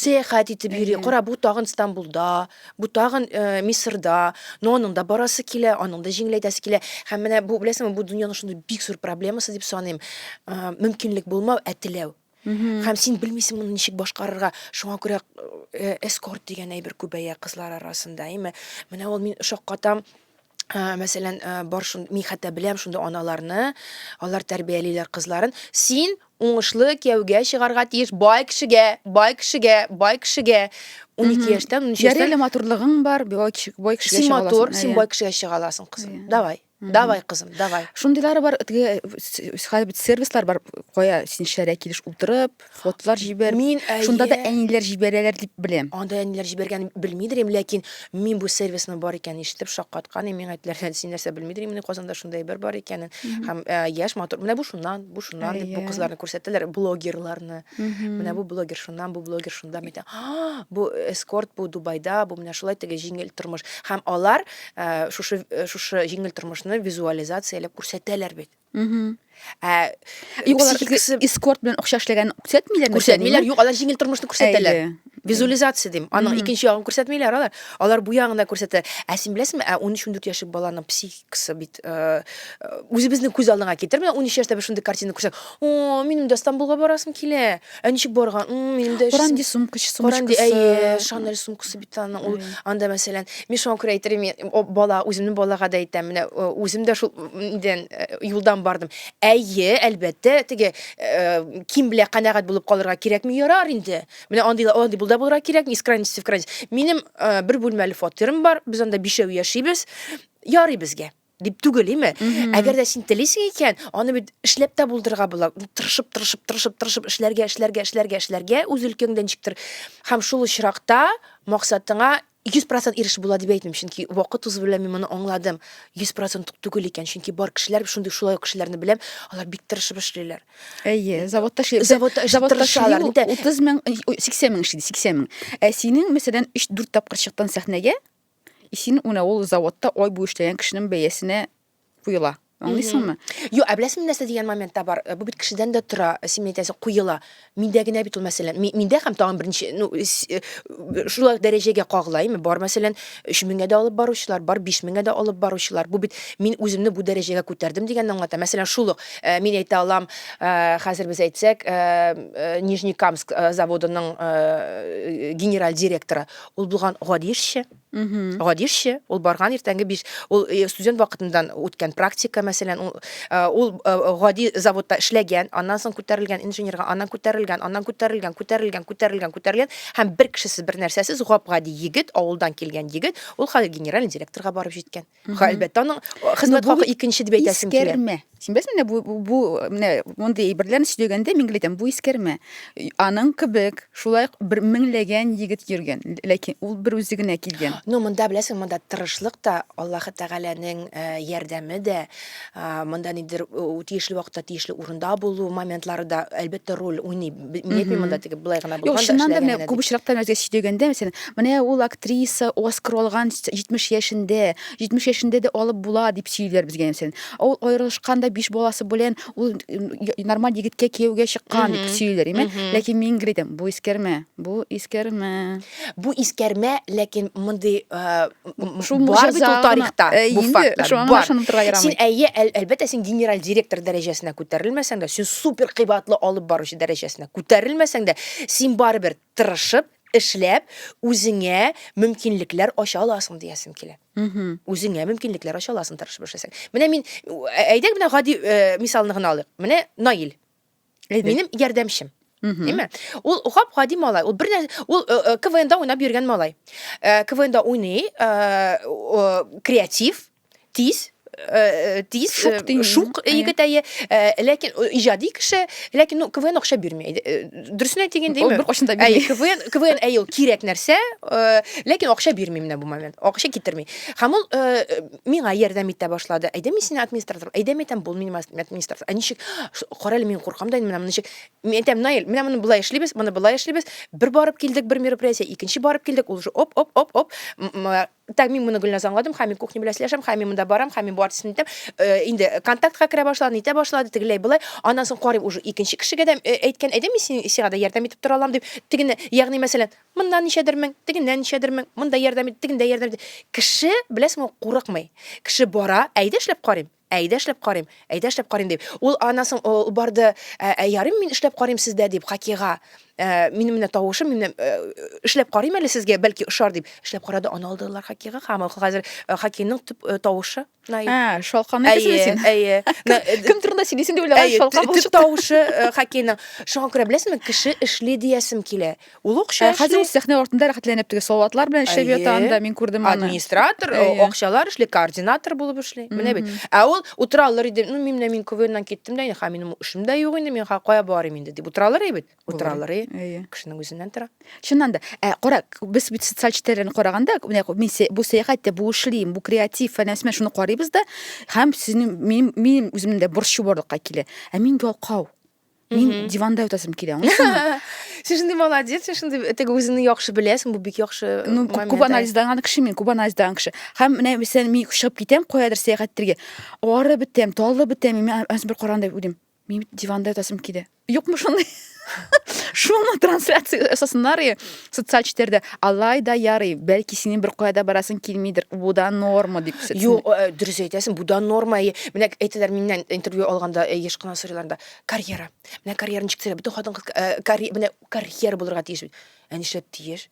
сәяхәт итеп йөри кара бу тагын стамбулда бу тагын э, мисырда ну аның да барасы килә аның да җиңеләйтәсе килә һәм менә бу беләсеңме бу дөньяның шундый бик зур проблемасы дип саныйм э, мөмкинлек булмау ә теләү Һәм син белмисең моны ничек башкарырга. Шуңа күрә э, эскорт дигән әйбер күбәя кызлар арасында, әйме? Менә ул мин шаккатам. Ә, мәсәлән, ә, бар шунд мин хәтта беләм шундый аналарны, алар тәрбиялиләр кызларын. Син уңышлы кияүгә чыгарга тиеш, бай кешегә, бай кешегә, бай кешегә. 12 яшьтән, 13 яшьтән. Яреле матурлыгың бар, бай кеше, бай кешегә Син матур, син бай кешегә чыга аласың, кызым. Иә. Давай. Давай, кызым, давай. Шундыйлары бар, теге хәзер бит сервислар бар, кая син шәрә килеш утырып, фотолар җибәр. Мин әйе. Шунда да әниләр җибәрәләр дип беләм. Анда әниләр җибәргән белмидер инем, ләкин мин бу сервисны бар икән ишетеп шаккаткан идем. Миңа әйттеләр, син нәрсә белмидер инем, Казанда шундай бер бар икәнен. Һәм э, яшь матур. Менә бу шуннан, бу шуннан дип бу кызларны күрсәттеләр, блогерларны. Менә бу блогер шуннан, бу блогер шунда. Бу эскорт, бу Дубайда, бу менә шулай теге җиңел тормыш. Һәм алар Ә, шушы э, шушы җиңел тормышны визуализацияләп күрсәтәләр бит. Угу. Ә, юк, алар икесе эскорт белән акча эшләгән күрсәтмиләр. Күрсәтмиләр, юк, алар җиңел тормышны күрсәтәләр. Визуализация дим. Аның икенче ягын күрсәтмиләр алар. Алар бу ягын да күрсәтә. Ә син беләсеңме, ә 13-14 яшьлек баланың психикасы бит э, үзебезнең күз алдыңа китер. Менә 13 яшьтә бер шундый картина күрсәк, о, минем дә Стамбулга барасым килә. Ә ничек барган? М, Минем дә Коран ди эшсем- сумка, чи- Коран ди, сумочкасы. әйе, Шанель сумкасы бит аның. Ул Әйе. анда мәсәлән, мин шуңа күрә әйтер идем, мин, о, бала, үземнең балага да әйтәм, менә э, үзем дә шул м, нидән э, юлдан бардым. Әйе, әлбәттә, теге э, ким белә канәгать булып калырга кирәкми, ярар инде. Менә андый андый булда булырга кирәкми, из крайности в крайность. Минем э, бер бүлмәле фатирым бар, без анда бишәү яшибез. Ярый безгә. дип түгел име әгәр дә син телисең икән аны бит эшләп тә булдырырга була тырышып тырышып тырышып тырышып эшләргә эшләргә эшләргә эшләргә үз өлкәңдә ничектер һәм шул очракта максатыңа йөз процент ирешеп була дип әйтмим чөнки вакыт узу белән мин моны аңладым йөз процент түгел икән чөнки бар кешеләр шундый шулай ук кешеләрне беләм алар бик тырышып эшлиләр әйе заводта эшли заводта тырышалар утыз мең сиксән мең эшли сиксән мең ә синең мәсәлән өч дүрт тапкыр чыктың сәхнәгә Исин уна ул заводта ой бу эшләгән кешенең бәясенә куела. Аңлыйсыңмы? Юк, ә беләсеңме нәрсә дигән моментта бар? Э, бу бит кешедән дә тора, э, син әйтәсең, куела. Миндә генә бит ул мәсәлән. Миндә һәм тагын берничә, ну, э, шулай дәрәҗәгә кагыла, әйме? Бар мәсәлән, 3000гә дә алып баручылар, бар 5000гә дә алып баручылар. Бу бит мин үземне бу дәрәҗәгә күтәрдем дигәнне аңлата. Мәсәлән, шул ук мин әйтә алам, хәзер без әйтсәк, Нижнекамск заводының генераль директоры, Ул булган гади эшче. Гади эшче, ул барган иртәнге биш, ул э, студент вакытыннан үткән практика, мәсәлән, ул, э, ул э, гади заводта эшләгән, аннан соң күтәрелгән инженерга, аннан күтәрелгән, аннан күтәрелгән, күтәрелгән, күтәрелгән, күтәрелгән һәм бер кешесез, бер нәрсәсез гап-гади егет, авылдан килгән егет, ул хәзер генеральный директорга барып җиткән. Ха, әлбәттә, аның хезмәт хакы икенче дип әйтәсем килә. Искәрмә. Син беләсеңме, бу бу менә мондый әйберләрне сөйләгәндә мин әйтәм, бу искәрмә. Аның кебек шулай бер меңләгән егет йөргән, ләкин ул бер үзе генә килгән. Ну, монда беләсең, монда тырышлык та, Аллаһы Тәгаләнең э, ярдәме дә, Монда нидер тиешле вакытта тиешле урында булу моментлары да әлбәттә роль уйный. Мин әйтмим монда тиге былай гына булган. Юк, чыннан да менә күп очракта нәрсә сөйләгәндә, мәсәлән, менә ул актриса Оскар алган 70 яшендә, 70 яшендә дә алып була дип сөйлиләр безгә мәсәлән. Ул аерылышкан да 5 баласы белән ул нормаль егеткә кияүгә чыккан дип сөйлиләр, име? Ләкин мин гридем, бу искәрмә, бу искәрмә. Бу искәрмә, ләкин мондый бар бит ул тарихта, бу фактлар бар. Син әйе, әлбәттә, син генераль директор дәрәҗәсенә күтәрелмәсәң дә, син супер кыйбатлы алып баручы дәрәҗәсенә күтәрелмәсәң дә, син барыбер тырышып, эшләп, үзеңә мөмкинлекләр ача аласың диясем килә. Үзеңә мөмкинлекләр ача аласың тырышып эшләсәң. Менә мин әйдәк менә гади мисалны гына алыйк. Менә Наил. Әйдә. Минем ярдәмчем. Әйме? Ул гап гади малай. Ул бернә ул э, э, КВНда уйнап йөргән малай. Э, КВНда уйный, креатив, тиз, тиз шук дим шук егет әйе ләкин иҗади кеше ләкин ну квн акча бирми дөресен әйтик инде ул беркайчан да бирми квн квн әйе ул кирәк нәрсә ләкин акча бирми менә бу момент акча китерми һәм ул миңа ярдәм итә башлады. Әйдә мин сине администратор, әйдә мин әйтәм, бул мин администратор. Ә ничек? Карале, мин куркам да инде менә ничек. Мин әйтәм, Наил, менә моны болай эшлибез, моны болай эшлибез. Бер барып килдек, бер мероприятие, икенче барып килдек, ул уже оп, оп, оп, оп. Так, мин моны Гөлназ аңладым, хәм мин кухня белән сөйләшәм, хәм мин монда барам, хәм мин бу артистны итәм. Э, инде контактка керә башлады, нитә башлады, тегеләй болай. Аннан соң карыйм уже икенче кешегә дә э, әйткән, әйдә мин сиңа да ярдәм итеп тора алам дип. Тегене, ягъни мәсәлән, Моннан ничәдер мең, тегеннән ничәдер мең, монда ярдәм ит, тегендә ярдәм ит. Кеше, беләсеңме, курыкмый. Кеше бара, әйдә эшләп карыйм, әйдә эшләп карыйм, әйдә эшләп карыйм дип. Ул аннан соң ул барды, ә ярыйм мин эшләп карыйм сездә дип, Хакига, минем менә тавышым, мин эшләп карыйм әле сезгә, бәлки ошар дип. Эшләп карады, аны алдылар Хакига, һәм ул хәзер Хакиның төп тавышы. Най. Ә, шалканы Әйе, кесәле син. әйе. На- э, Кем турында сөйлисең дип уйлаган Әйе, шалка тө- төп булып чыкты. тавышы э, хоккейның. Шуңа күрә беләсеңме, кеше эшли диясем килә. Ул акча Ә, Хәзер эшли. ул сәхнә артында рәхәтләнеп теге салатлар белән эшләп Әйе. ята анда, мин күрдем аны. Администратор, э, Әйе. акчалар эшли, координатор булып эшли. Менә бит. Мгм. Ә ул утыра алыр иде. Ну, мин менә мин КВНнан киттем дә, инде, ха, минем эшем дә юк инде, мин ха, кая барыйм инде дип утыра алыр иде бит. утыра алыр и кешенең үзеннән тора чыннан да ә кара без бит социаль челтәрләрне караганда менә мин бу сәяхәт тә бу эшлим бу креатив фәлән фәлән шуны карыйбыз да һәм сезнең минем минем үземнең дә борчу барлыкка килә ә мин ялкау мин диванда ятасым килә аңлыйсыңмы сен шундый молодец сен шундый теге үзеңне яхшы беләсең бу бик яхшы ну күп анализлаган кеше мин күп анализлаган кеше һәм менә мәсәлән мин чыгып китәм каядыр сәяхәт итәргә арып бетәм талып бетәм мин бер караганда уйлыйм Мин бит диванда ятасым килә. Юкмы шундый? Шуны трансляция ясасыннар и социаль челтәрдә. Алай да ярый, бәлки синең бер кая да барасың килмидер. Бу да норма дип сөтсен. Юк, э, дөрес әйтәсең, бу да норма. И, Менә әйтәләр миннән интервью алганда, э, еш кына сорыйлар да, карьера. Менә карьера ничек төзелә? Бөтен хатын-кыз э, карье- менә карьера булырга тиеш бит. Ә нишләп тиеш?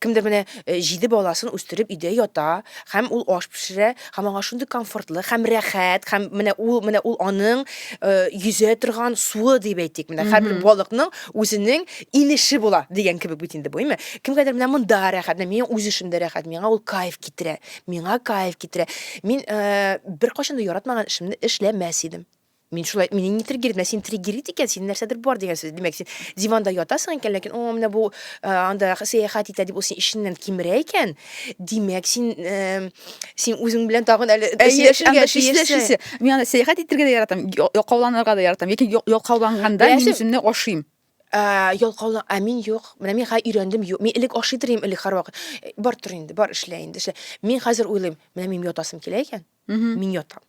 Кемдер менә э, җиде баласын үстереп өйдә ята һәм ул аш пешерә һәм аңа шундый комфортлы һәм рәхәт һәм менә ул менә ул аның э, йөзә торган суы дип әйтик менә һәрбер балыкның үзенең инеше була дигән кебек бит инде бу әйме кемгәдер менә монда рәхәт менә миңа үз эшемдә рәхәт миңа ул кайф китерә миңа кайф китерә мин э, беркайчан да яратмаган эшемне эшләмәс идем Мин шулай, мине не триггерит, менә син триггерит икән, син нәрсәдер бар дигән сүз. Димәк, син диванда ятасың икән, ләкин о, менә бу э, анда сәяхәт итә дип ул син ишеннән кимерә икән. Димәк, син э, син үзең белән тагын әле сөйләшергә тиешсе. Мин анда сәяхәт итәргә дә яратам, якауланырга да яратам. Ләкин якауланганда мин үземне ашыйм. Ә, ялкаулы, ә мин юк. Менә мин хәзер өйрәндем, юк. Мин элек ашый торыйм, элек һәрвакыт. Бар тор инде, бар эшлә инде, эшлә. Мин хәзер уйлыйм, менә мин ятасым килә икән, мин ятам.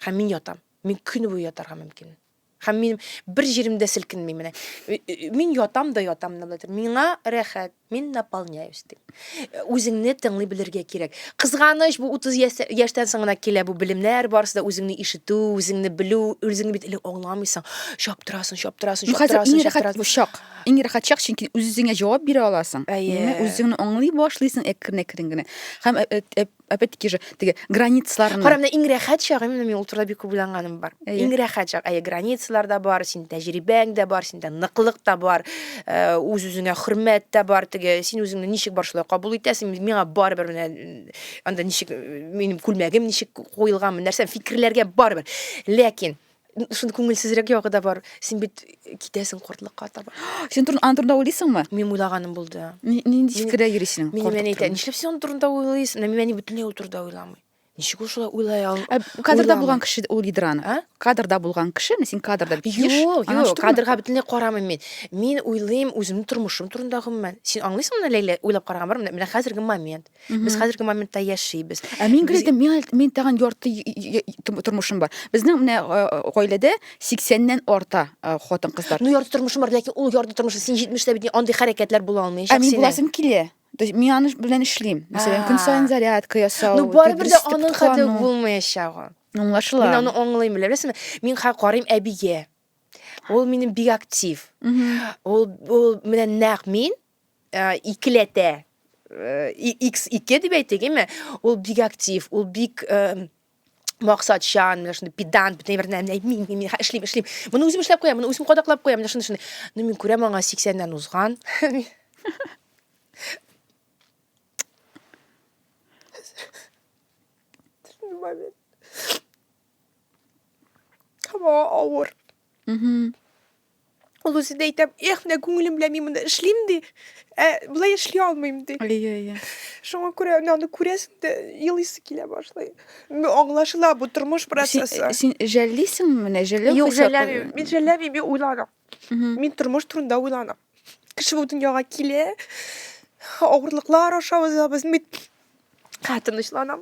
Һәм мин ятам. Мин көн буе ятарга мөмкин. Һәм мин бер җиремдә селкенми менә. Мин ятам да ятам да булатыр. Миңа рәхәт, мин наполняюсь дип. Үзеңне тыңлый белергә кирәк. Кызганыч, бу 30 яшьтән соң гына килә бу белемнәр, барысы да үзеңне ишетү, үзеңне белү, үзеңне бит элек аңламыйсың. Чаптырасың, чаптырасың, чаптырасың, чаптырасың. Бу чак. Иң рәхәт чак, чөнки үзеңә җавап бирә аласың. Үзеңне аңлый башлыйсың әкрен-әкрен генә. Һәм опять таки же теге границаларны кара менә иң рәхәт чагы именно мин ул турыда бик күп уйланганым бар иң рәхәт чак әйе границалар да бар син тәҗрибәң дә бар синдә ныклык та бар э, үз үзеңә хөрмәт тә бар теге син үзеңне ничек бар шулай кабул итәсең миңа барыбер менә анда ничек минем күлмәгем ничек куелганмы нәрсә фикерләргә барыбер ләкин Шундый күңелсезрәк ягы да бар. Син бит китәсең кортлыкка таба. Син турын аны турында уйлыйсыңмы? Мин уйлаганым булды. Нинди фикердә йөрисең? Мин әни әйтә, нишләп син аны турында уйлыйсың? Мин әни бөтенләй ул турында уйламый. Ничек ул шулай уйлай ал? Ә кадрда булган кеше ул Идраны. А? Кадрда булган кеше, мин син кадрда бит. Юк, юк, кадрга бөтенләй карамыйм мин. Мин уйлыйм үземнең тормышым турында гомумән. Син аңлыйсыңмы, Ләйлә, уйлап караган бар, менә хәзерге момент. Без хәзерге моментта яшибез. Ә мин гел әйтәм, мин мин тагын ярты тормышым бар. Безнең менә гаиләдә 80-ннән арта хатын кызлар. Ну ярты тормышым бар, ләкин ул ярты тормышы син 70-тә бит андый хәрәкәтләр була алмый. Ә мин буласым килә. То есть мин аны белән эшлим. Мәсәлән, көн саен зарядка ясау. Ну барыбер дә аның хәтле булмаячагы. Аңлашыла. Мин аны аңлыйм, беләсеңме? Мин хәзер карыйм әбигә. Ул минем бик актив. Ул ул менә нәкъ мин ә, икеләтә x ике дип әйтик әйме ул бик актив ул бик ә, максатчан менә шундый педант бөтен бер нәрсә әйтми мин мин эшлим эшлим моны үзем эшләп куям моны үзем кадаклап куям менә шундый шундый ну мин күрәм аңа сиксәннән узган Come on, over. Mm-hmm. Ул үзе дә әйтә, эх, менә күңелем белән мин монда эшлим ди, ә болай эшли алмыйм ди. Әйе, әйе. Шуңа күрә менә аны күрәсең дә елыйсы килә башлый. Ну, аңлашыла бу тормыш процессы. Син, син жәллисеңме менә? Жәлләү Юк, жәлләмим. Мин жәлләмим, мин уйланам. Мин тормыш турында уйланам. Кеше бу дөньяга килә, авырлыклар аша узабыз. Мин тынычланам.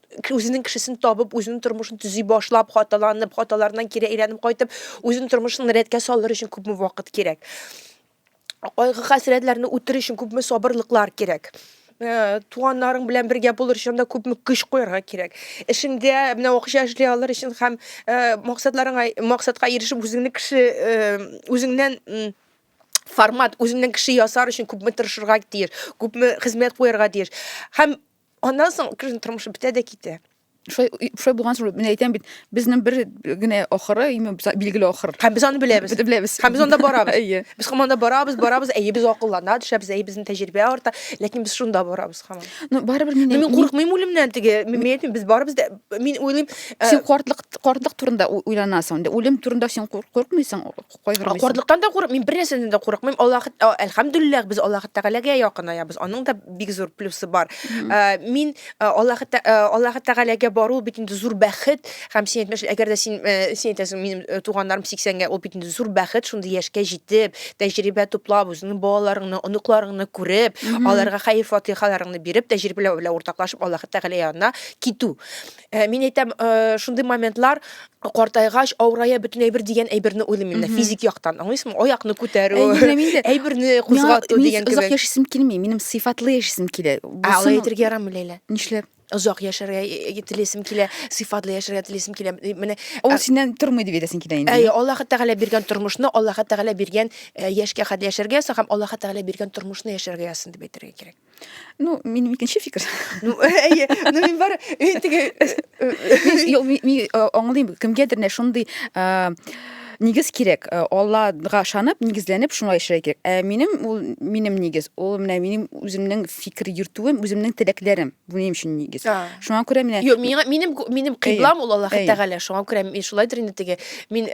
үзенең кешесен табып, үзенең тормышын төзи башлап, хаталанып, хаталарыннан кире әйләнеп кайтып, үзенең тормышын рәткә салыр өчен күпме вакыт кирәк? Кайгы хәсрәтләрне үтер өчен күпме сабырлыклар кирәк? Э, туганнарың белән бергә булыр өчен дә күпме көч куярга кирәк эшеңдә менә акча эшли алыр өчен һәм э, максатларыңа максатка ирешеп үзеңне кеше э, үзеңнән формат үзеңнән кеше ясар өчен күпме тырышырга тиеш күпме хезмәт куярга тиеш һәм Аннан соң кешенең тормышы бетә дә китә. Шулай шулай булган соң мин әйтәм бит, безнең бер генә ахыры, билгеле ахыр. Һәм без аны беләбез. Без беләбез. Һәм без анда барабыз. Әйе. Без команда барабыз, барабыз, әйе без акыллана төшәбез, әйе безнең тәҗрибә арта, ләкин без шунда барабыз һаман. Ну барыбер мин Мин курыкмыйм үлемнән теге. Мин әйтмим, без барыбыз да мин уйлыйм. Син картлык картлык турында уйланасың. Үлем турында син курыкмыйсың. кайгырмыйсың. Картлыктан да курыкмыйм, бер нәрсәдән дә курыкмыйм. Аллаһ, әлхәмдүлилләһ, без Аллаһ Тәгаләгә якынаябыз. Аның да бик зур плюсы бар. Э, мин э, Аллаһ э, Аллаһ Тәгаләгә бару бит инде зур бәхет. Һәм син әйтмеш, әгәр дә син син әйтәсең, минем туганнарым 80-гә, ул бит инде зур бәхет, шундый яшькә җитеп, тәҗрибә туплап, үзеңнең балаларыңны, оныкларыңны күреп, аларга хәйр-фатихаларыңны биреп, тәҗрибәләр белән уртаклашып Аллаһ Тәгалә янына китү. Ә, мин әйтәм, э, шундый моментлар картайгач, авырая бөтен әйбер дигән әйберне уйлыйм мин Мгм. физик яктан. Аңлыйсыңмы? Аякны күтәрү, Әйберне мин дә- әйберне Миңа- кузгату мин дигән озак кебек. яшисем килми, минем сыйфатлы яшисем килә. Ә алай Булсын- әйтергә ярамый Ләйлә. Нишләп? Озак яшәргә э, телисем килә, сыйфатлы яшәргә телисем килә. Э, Менә Ул Ә- синнән тормый дип әйтәсең килә инде. Әйе, Аллаһ Тәгалә биргән тормышны, Аллаһ Тәгалә биргән э, яшькә хәтле яшәргә язсын һәм Аллаһ Тәгалә биргән тормышны яшәргә язсын дип әйтергә кирәк. Ну, минем икенче фикер. Ну, әйе, ну мин бар, мин теге Юк, мин аңлыйм, кемгәдер нә шундый нигез кирәк. Аллага ышанып, нигезләнеп шуңа эшләргә кирәк. Ә минем ул минем нигез, ул менә минем үземнең фикер йөртүем, үземнең теләкләрем. Бу минем өчен нигез. Шуңа күрә менә Юк, миңа минем минем кыйблам ул Аллаһ Тәгалә. Шуңа күрә мин шулайдыр инде теге. Мин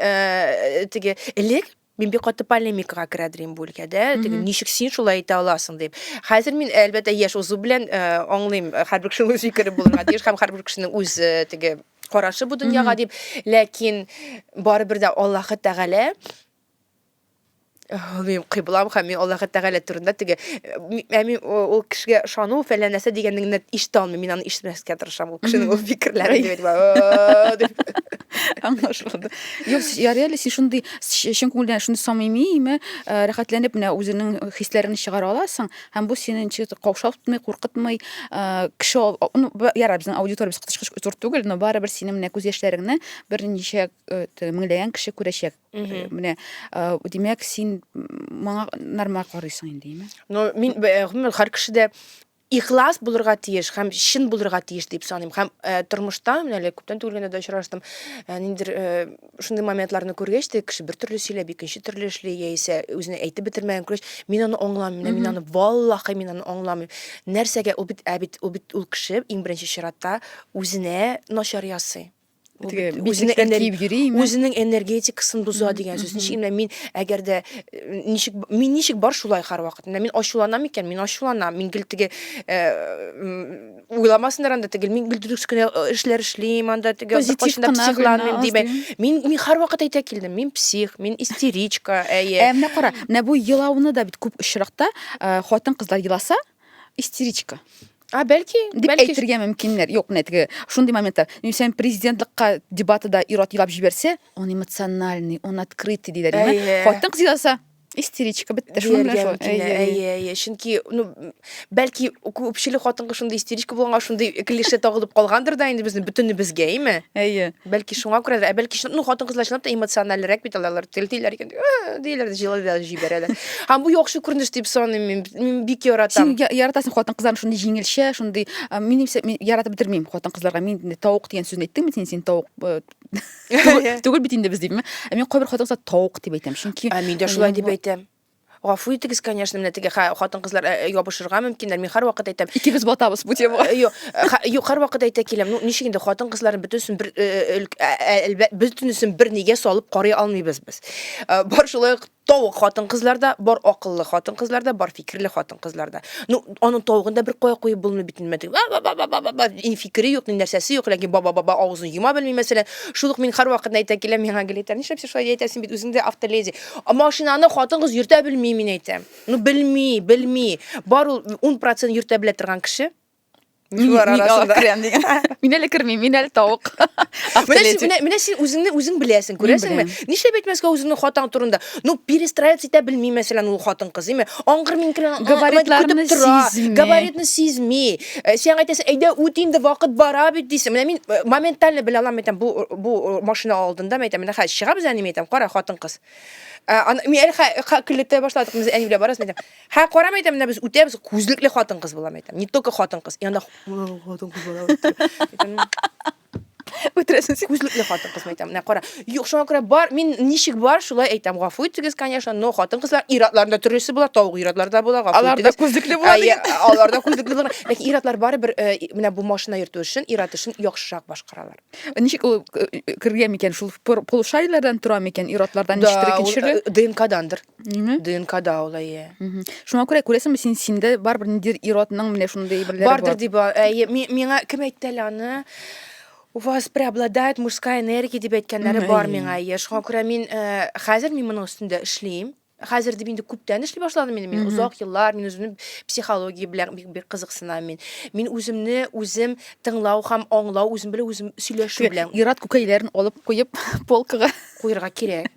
теге элек Мин бик каты полемикага керә дим бу өлкәдә. Теге ничек син шулай әйтә аласың дип. Хәзер мин әлбәттә яшь узу белән э, аңлыйм, э, һәрбер кешенең үз фикере булырга тиеш һәм һәрбер кешенең үз э, теге карашы бу дөньяга дип. Ләкин барыбер дә Аллаһы Тәгалә мин кыйблам һәм мин Аллаһы Тәгалә турында теге ә мин ул кешегә ышану фәлән нәрсә дигәнне ишетә алмыйм. Мин аны ишетмәскә тырышам. Ул кешенең ул фикерләрен дип әйтә. Аңлашылды. Юк, ярый әле син шундый чын күңелдән шундый самими ме э, рәхәтләнеп менә үзеңнең хисләреңне чыгара аласың һәм бу сине ничек тә каушатмый куркытмый э, кеше ал- а- ну, б- ярар безнең аудиториябез кычкыч зур түгел но барыбер синең менә күз яшьләреңне берничә э, т- меңләгән кеше күрәчәк Э, менә э, димәк син м, моңа нормаль карыйсың инде име Ну, мин б- э, гомумән һәр кешедә ихлас булырга тиеш һәм чын булырга тиеш дип саныйм һәм тормышта менә әле күптән түгел генә дә очраштым ниндидер шундый моментларны күргәч тә кеше бер төрле сөйләп икенче төрле эшли яисә үзенә әйтеп бетермәгән күргәч мин аны аңламыйм мин аны валлахи мин аны аңламыйм нәрсәгә ул бит ә бит ул бит ул кеше иң беренче чиратта үзенә начар ясый үзенең энергиясен үзенең энергетикасын боза дигән сүз ничек менә мин әгәр дә э, ничек мин ничек бар шулай һәрвакыт менә мин ачуланам икән мин ачуланам мин гел теге э, уйламасыннар анда тегел мин гел дөрес кенә э, эшләр эшлим анда теге кайчанда психланмыйм дибе мин мин һәрвакыт әйтә килдем мин псих мин истеричка әйе ә менә кара менә бу елауны да бит күп очракта хатын кызлар еласа истеричка А, бәлки, дип бәлки. әйтергә мөмкиннәр. Юк, менә теге шундый моментлар. Нисән президентлыкка дебатыда ир-ат елап җибәрсә, он эмоциональный, он открытый диләр. Әйе. Яме, Хатын кыз еласа, истеричка бетте. Шуның белән Дияргә шул. мөмкин, Әйе, әйе. әйе, әйе. Чөнки, ну, бәлки күпчелек хатынга шундый истеричка булганга, шундый клише тагылып калгандыр да инде безнең бөтенебезгә, әйме? Әйе. Бәлки шуңа күрәдер, ә бәлки ну хатын-кызлар чынлап та эмоциональрәк бит алар, телтиләр икән, диләр дә җылыдан җибәрәләр. Һәм бу яхшы күренеш дип саныйм мин, мин бик яратам. Син яратасың хатын-кызларны шундый җиңелчә, шундый мин яратып бетермим хатын-кызларга. Мин инде тавык дигән сүзне әйттеңме син, син тавык түгел бит инде без димме? Ә мин кайбер хатын-кызлар тавык дип әйтәм, чөнки Ә мин дә шулай дип әйтәм. Гафу итегез, конечно, менә теге хатын-кызлар э, э, ябышырга мөмкиннәр. Мин һәрвакыт әйтәм. Икебез батабыз бу темага. Э, юк, юк, һәрвакыт әйтә киләм. Ну, ничек инде хатын-кызларны бөтенесен бер бөтенесен бер нигә салып карый алмыйбыз без. Бар шулай ук тавык хатын-кызларда, бар акыллы хатын-кызларда, бар фикерле хатын-кызларда. Ну, аның тавыгын да бер кая куеп булмый бит инде. Ни фикере юк, ни нәрсәсе юк, ләкин баба-баба авызын йома белми мәсәлән. Шул ук мин һәрвакыт әйтә киләм, миңа гел әйтә, нишләп син шулай әйтәсең бит, үзең дә автоледи. А машинаны хатын-кыз йөртә белми, мин әйтәм. Ну, белми, белми. Бар ул 10% йөртә белә торган кеше. Шулар арасында. Мин әле кермим, мин әле тавык. Менә син үзеңне үзең беләсең, күрәсеңме? Нишләп әйтмәскә үзеңнең хатаң турында? Ну, перестраиваться итә белми, мәсәлән, ул хатын-кыз, димме? Аңгыр-миңгер габаритларны сизми. Габаритны сизми. Э, сен әйтәсең әйдә үт инде вакыт бара бит дисең менә мин э, моментально белә алам әйтәм бу бу э, машина алдында әйтәм менә хәзер чыгабыз әни әйтәм кара хатын кыз мин әле көлләтә башладык без әни белән барасыз әйтәм хә карам әйтәм менә без үтәбез күзлекле хатын кыз булам әйтәм не только хатын кыз и анда хатын кыз үтерәсең син күзлекле хатын кыз әйтәм менә кара юк шуңа күрә бар мин ничек бар шулай әйтәм гафу итегез конечно но хатын кызлар ир-атларында төрлесе була тавык ир-атлар да була гафу алар да күзлекле була дигән алар да күзлекле була ләкин ир-атлар барыбер э, менә бу машина йөртү эшен ир-ат эшен яхшырак башкаралар ничек ул э, кергән микән шул полушариеләрдән тора микән ир-атлардан ничектер икенче э, ДНКдандыр Ниме? ДНКда ул әйе. Мгм. Шуңа күрә күрәсеңме син синдә барыбер ниндидер ир-атның менә шундый әйберләре бар. Бардыр дип, а, әйе, ми- миңа кем әйтте әле аны? У вас преобладает мужская энергия дип әйткәннәре Мгм, бар әйе. миңа, әйе. Шуңа күрә мин э, хәзер мин моның өстендә эшлим. Хәзер дип инде күптән эшли башладым инде мин. Мгм. Озак еллар мин үземне психология белән бик бик кызыксынам мин. Мин үземне үзем тыңлау һәм аңлау, үзем белән үзем сөйләшү белән Ир-ат күкәйләрен алып куеп полкага куерга кирәк.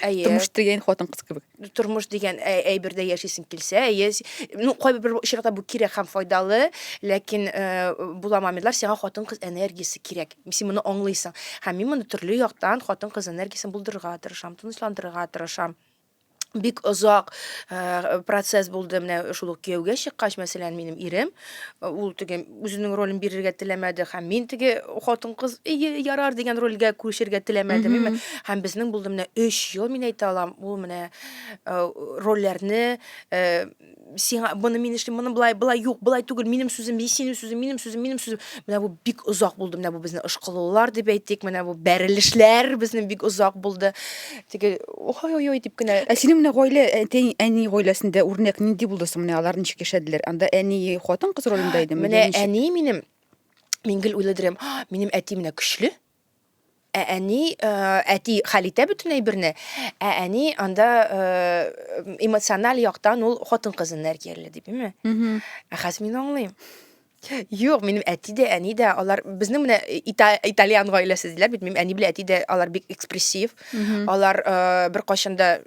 Әйе. Тормыш дигән хатын-кыз кебек. Тормыш дигән әйбердә яшисең килсә, әйе. Ну, кайбер очракта бу кирәк һәм файдалы, ләкин була мамидлар, сиңа хатын-кыз энергиясе кирәк. Син моны аңлыйсың. Һәм мин моны төрле яктан хатын-кыз энергиясен булдырырга тырышам, тынычландырырга тырышам бик озак процесс булды менә шул ук кияүгә чыккач мәсәлән минем ирем ул теге үзенең ролен бирергә теләмәде һәм мин теге хатын кыз ие ярар дигән рольгә күрешергә теләмәдем mm һәм безнең булды менә өч ел мин әйтә алам ул менә э, рольләрне э, сиңа моны мин эшлим моны былай былай юк былай түгел минем сүзем синең сүзең минем сүзем минем сүзем менә бу бик озак булды менә бу безнең ышкылулар дип әйтик менә бу бәрелешләр безнең бик озак булды Теге ой-ой-ой дип кенә. Ә синең менә гаилә, әти, әни гаиләсендә үрнәк нинди булды соң? Менә алар ничек яшәделәр? Анда әни хатын-кыз ролендә идеме? Менә Ничек? әни минем, мин гел уйладырам, «А, минем әти менә көчле. Ә әни, э, әти хәл итә бөтен әйберне, ә әни анда э, эмоциональ яктан ул хатын-кыз энергияле дип, име? Мгм. Ә хәзер мин аңлыйм. Юк, минем әти дә, әни дә, алар безнең менә э, ита, итальян гаиләсе диләр бит. Минем әни белән әти дә алар бик экспрессив. Алар э, бер кайчан да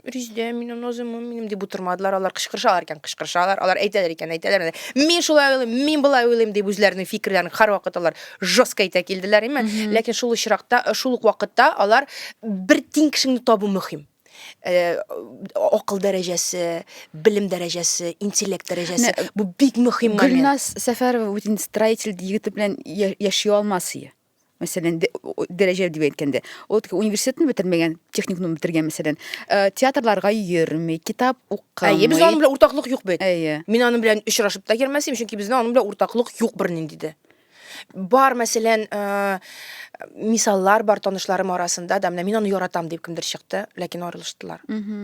Ризде, мин назым, минем дип утырмадылар. Алар кычкырышалар икән, кычкырышалар. Алар әйтәләр икән, әйтәләр. менә, Мин шулай уйлыйм, мин болай уйлыйм дип үзләренең фикерләрен һәрвакыт алар жестко әйтә килделәр име. Ләкин шул очракта, э, шул ук вакытта алар бер тиң кешеңне табу мөһим. акыл дәрәҗәсе, белем дәрәҗәсе, интеллект дәрәҗәсе. Бу бик мөһим момент. Гөлназ Сәфәрова бүтән строитель егете белән яши алмас ие. Мәсәлән, дәрәҗә дип әйткәндә, ул университетны бетермәгән, техникумны бетергән, мәсәлән, театрларга йөрми, китап укымый. Әйе, без аның белән уртаклык юк бит. Әйе. Мин аның белән очрашып та йөрмәсем, чөнки безнең аның белән уртаклык юк бернинди дә. Бар, мәсәлән, э, мисаллар бар танышларым арасында да, менә мин аны яратам дип кемдер чыкты, ләкин арылыштылар.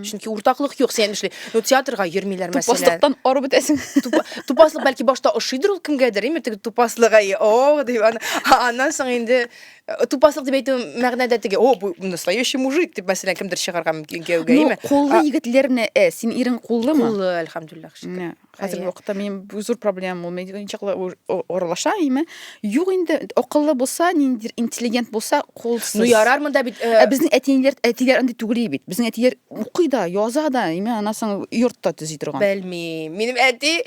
Чөнки уртаклык юк, сен эшли. Ну, театрга йөрмиләр, мәсәлән. Тупаслыктан арып бетәсең. Тупа- Тупаслык бәлки башта ошыйдыр ул кемгәдер, име, теге тупаслык, ай, о, дип, аны- а- аннан соң инде э, тупаслык дип әйтү мәгънәдә теге, о, бу настоящий мужик, дип, мәсәлән, кемдер чыгарга мөмкин кияүгә, Ну, име? куллы А- егетләрне, э, син ирең куллымы? Куллы, әлхәмдулиллах, шөкер. Менә. Хәзерге вакытта минем зур проблемам ул медиа ничаклы аралаша име? Юк инде, акыллы булса, ниндидер интеллигент булса, кулсыз. Ну ярар монда бит. Э, ә безнең әтиләр, әтиләр андый түгел бит. Безнең әтиләр укый да, яза да, име анасың йортта төзи торган. Белмим. Минем әти,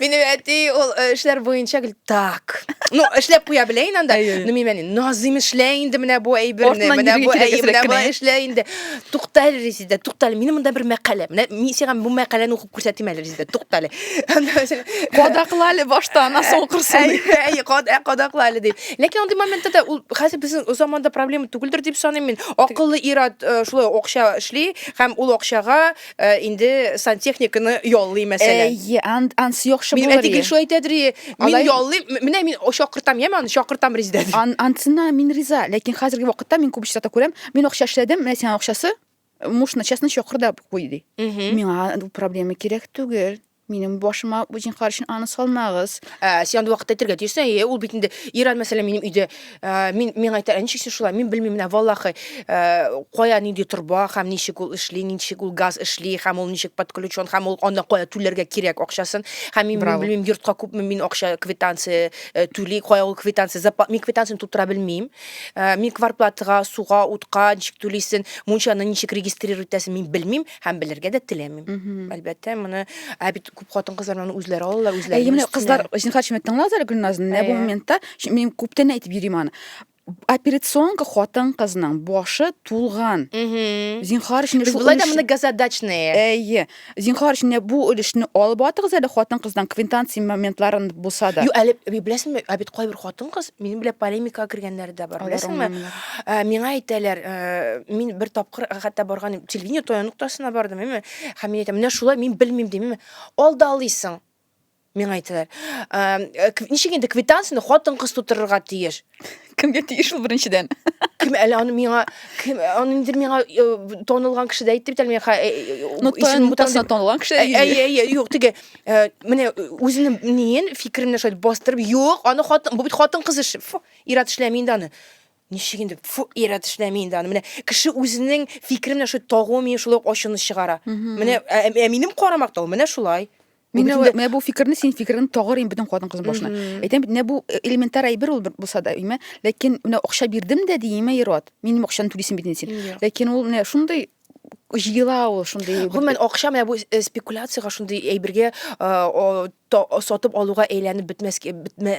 минем әти ул э, эшләр буенча гел так. Ну, эшләп куя белә инде анда. Ну мин менә Назим эшлә инде менә бу әйберне, менә бу әйберне эшлә инде. Тукталь Резидә, тукталь. Минем монда бер мәкалә. Менә мин сиңа бу мәкаләне күрсәтим әле резидент тукта әле кадакла әле башта аннан соң укырсың әйе кадакла әле дип ләкин андый моментта да ул хәзер безнең заманда проблема түгелдер дип саныйм мин акыллы ир-ат э, шулай акча эшли һәм ул акчага э, инде сантехниканы яллый мәсәлән әйе ансы яхшы булыр минем әти гел шулай әйтәдер мин яллыйм менә мин чакыртам яме аны чакыртам резидә анысына мин риза ләкин хәзерге вакытта мин күп очракта күрәм мин акча эшләдем менә сиңа акчасы муж начасын чокыр да куй ди миңа проблема кирәк түгел минем башыма җинхар өчен аны салмагыз ә, син андый вакытта әйтергә тиешсең әйе ул бит инде ир аль мәсәлән минем өйдә ә, мин миңа әйтә ничек син шулай мин белмим менә валлахи ә, кая нинди торба һәм ничек ул эшли ничек ул газ эшли һәм ул ничек подключен һәм ул аны кая түләргә кирәк акчасын һәм мин белмим йортка күпме мин акча квитанция ә, түли кая ул квитанция мин квитанцияны тутыра белмим Э, мин кварплатага суга утка ничек түлисен мунчаны ничек регистрировать итәсен мин белмим һәм белергә дә теләмим әлбәттә моны ә бит күп хатын кызлар моны үзләре алалар үзләре әйе менә кызлар зинһар шимәт тыңлагыз әле гөлназны менә бу моментта мин күптән әйтеп йөрим аны операционка хатын кызның башы тулган зинһар өчен без болай да моны газодачные әйе Зинхар, син дә бу өлешне алып атыгыз әле хатын-кыздан квинтанция моментларын булса да. Юк, әле би- беләсеңме, ә бит кайбер хатын-кыз минем белән полемикага кергәннәре дә бар, Алар беләсеңме? аңламыйлар. Ә, Миңа әйтәләр, ә, мин бер тапкыр хәтта барган идем, телевидение таяныктасына бардым, әйме, һәм мин әйтәм, менә шулай мин белмим, дим, әйме, алдалыйсың. Миңа әйтәләр. Ничек инде квитанцияне хатын-кыз тутырырга тиеш? Кемгә тиеш ул беренчедән? Кем әле аны миңа кем аны инде миңа э, тонылган кеше дә әйтте бит әле миңа. Э, э, ну, тонылган тонылган кеше. Әйе, әйе, юк, теге менә үзенең ниен фикеренә шулай бастырып, юк, аны хатын, бу бит хатын-кыз эше. Фу, ират эшләми инде аны. Ничек инде, фу, ират эшләми инде аны. Менә кеше үзенең фикеренә шулай тагуы миңа шулай ачуны чыгара. Менә ә минем карамакта ул менә шулай. Мин бөтендә... менә бу фикерне син фикерен тагырым бөтен хатын кыз башына. Әйтәм бит, менә бу э, элементар әйбер ул булса да, имә, ләкин менә акча бирдем дә диеме ират. Минем акчаны түлисем бит син. Ләкин ул менә шундый җыела ул шундый. Гомумән акча менә бу э, спекуляциягә шундый әйбергә э, сатып алуга әйләнеп бетмәскә бетмә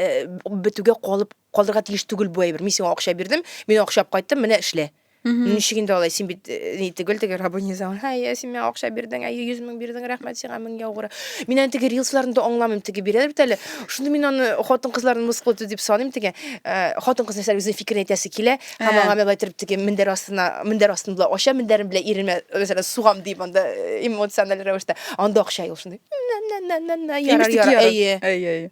бетүгә калып Калдырга тиеш түгел бу әйбер. Мин сиңа акча бирдем, мин акча алып кайттым, менә эшлә. Ничек инде алай, син бит э, ни түгел, теге рабонизам. Һай, ә син миңа акча бирдең, ә 100 мең бирдең, рәхмәт сиңа мең яугыры. Мин аны теге рилсларны да аңламыйм, теге бирәләр бит әле. Шуны мин аны хатын кызларны мыскыл итү дип саныйм теге. Э, Хатын кыз нәрсә үзенең фикерен әйтәсе килә, һәм Ә. аңа мин былай торып теге мендәр астына, мендәр астын була ача, мендәрем белән иремә, мәсәлән, сугам дип анда э, эмоциональ рәвештә. Анда акча юк шундый. Нә-нә-нә-нә-нә, Имеш Ярар, тик ярар. ярар. Әйе. Әй, әй.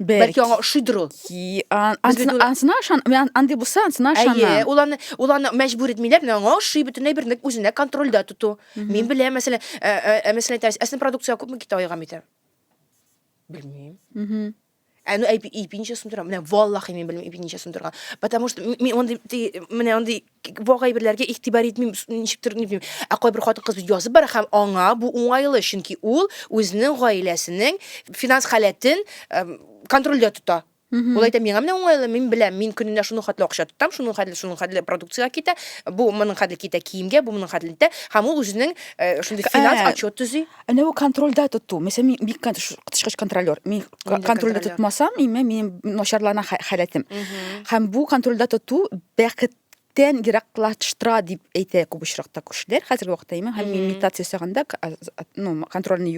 Бәлки аңа ошыйдыр ул. Ансына ышан, андый булса, ансына ышанам. Әйе, ул аны, ул аны мәҗбүр итмиләр, менә аңа ошый бөтенләй бер ник үзенә контрольдә тоту. Мин беләм, мәсәлән, ә, ә, ә мәсәлән, әйтәбез, әсен продукция күпме китә айга митә? Белмим. Мм. Ә ну әйпи ипи ничә сум тора? Менә валлахи мин белмим ипи ничә сум торган. Потому что мин андый менә андый вак әйберләргә игътибар итмим, ничектер ни белмим. Ә кайбер хатын-кыз язып бара һәм аңа бу уңайлы, чөнки ул үзенең гаиләсенең финанс халәтен контрольдә тота. Ул әйтә, миңа менә уңайлы, мин беләм, мин көненә шуның хәтле акча тотам, шуның хәтле, шуның хәтле продукциягә китә, бу моның хәтле китә киемгә, бу моның хәтле китә, һәм ул үзенең шундый финанс отчет төзи. Әнә бу контрольдә тоту. Мәсәлән, мин бик коточкыч контролер. Мин контрольдә тотмасам, имә минем начарлана халәтем. Һәм бу контрольдә тоту бәхет тән ераклаштыра дип әйтә күп очракта күршеләр хәзерге вакытта имә һәм медитация ясаганда ну контрольны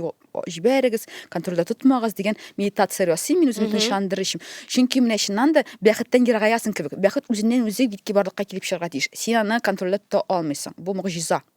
җибәрегез контрольдә тотмагыз дигән медитация ясыйм мин үземне тынычландырыр өчен чөнки менә чыннан да бәхеттән ерагаясың кебек бәхет үзеннән үзе бит кибарлыкка килеп чыгарга тиеш син аны контрольдә тота алмыйсың бу могҗиза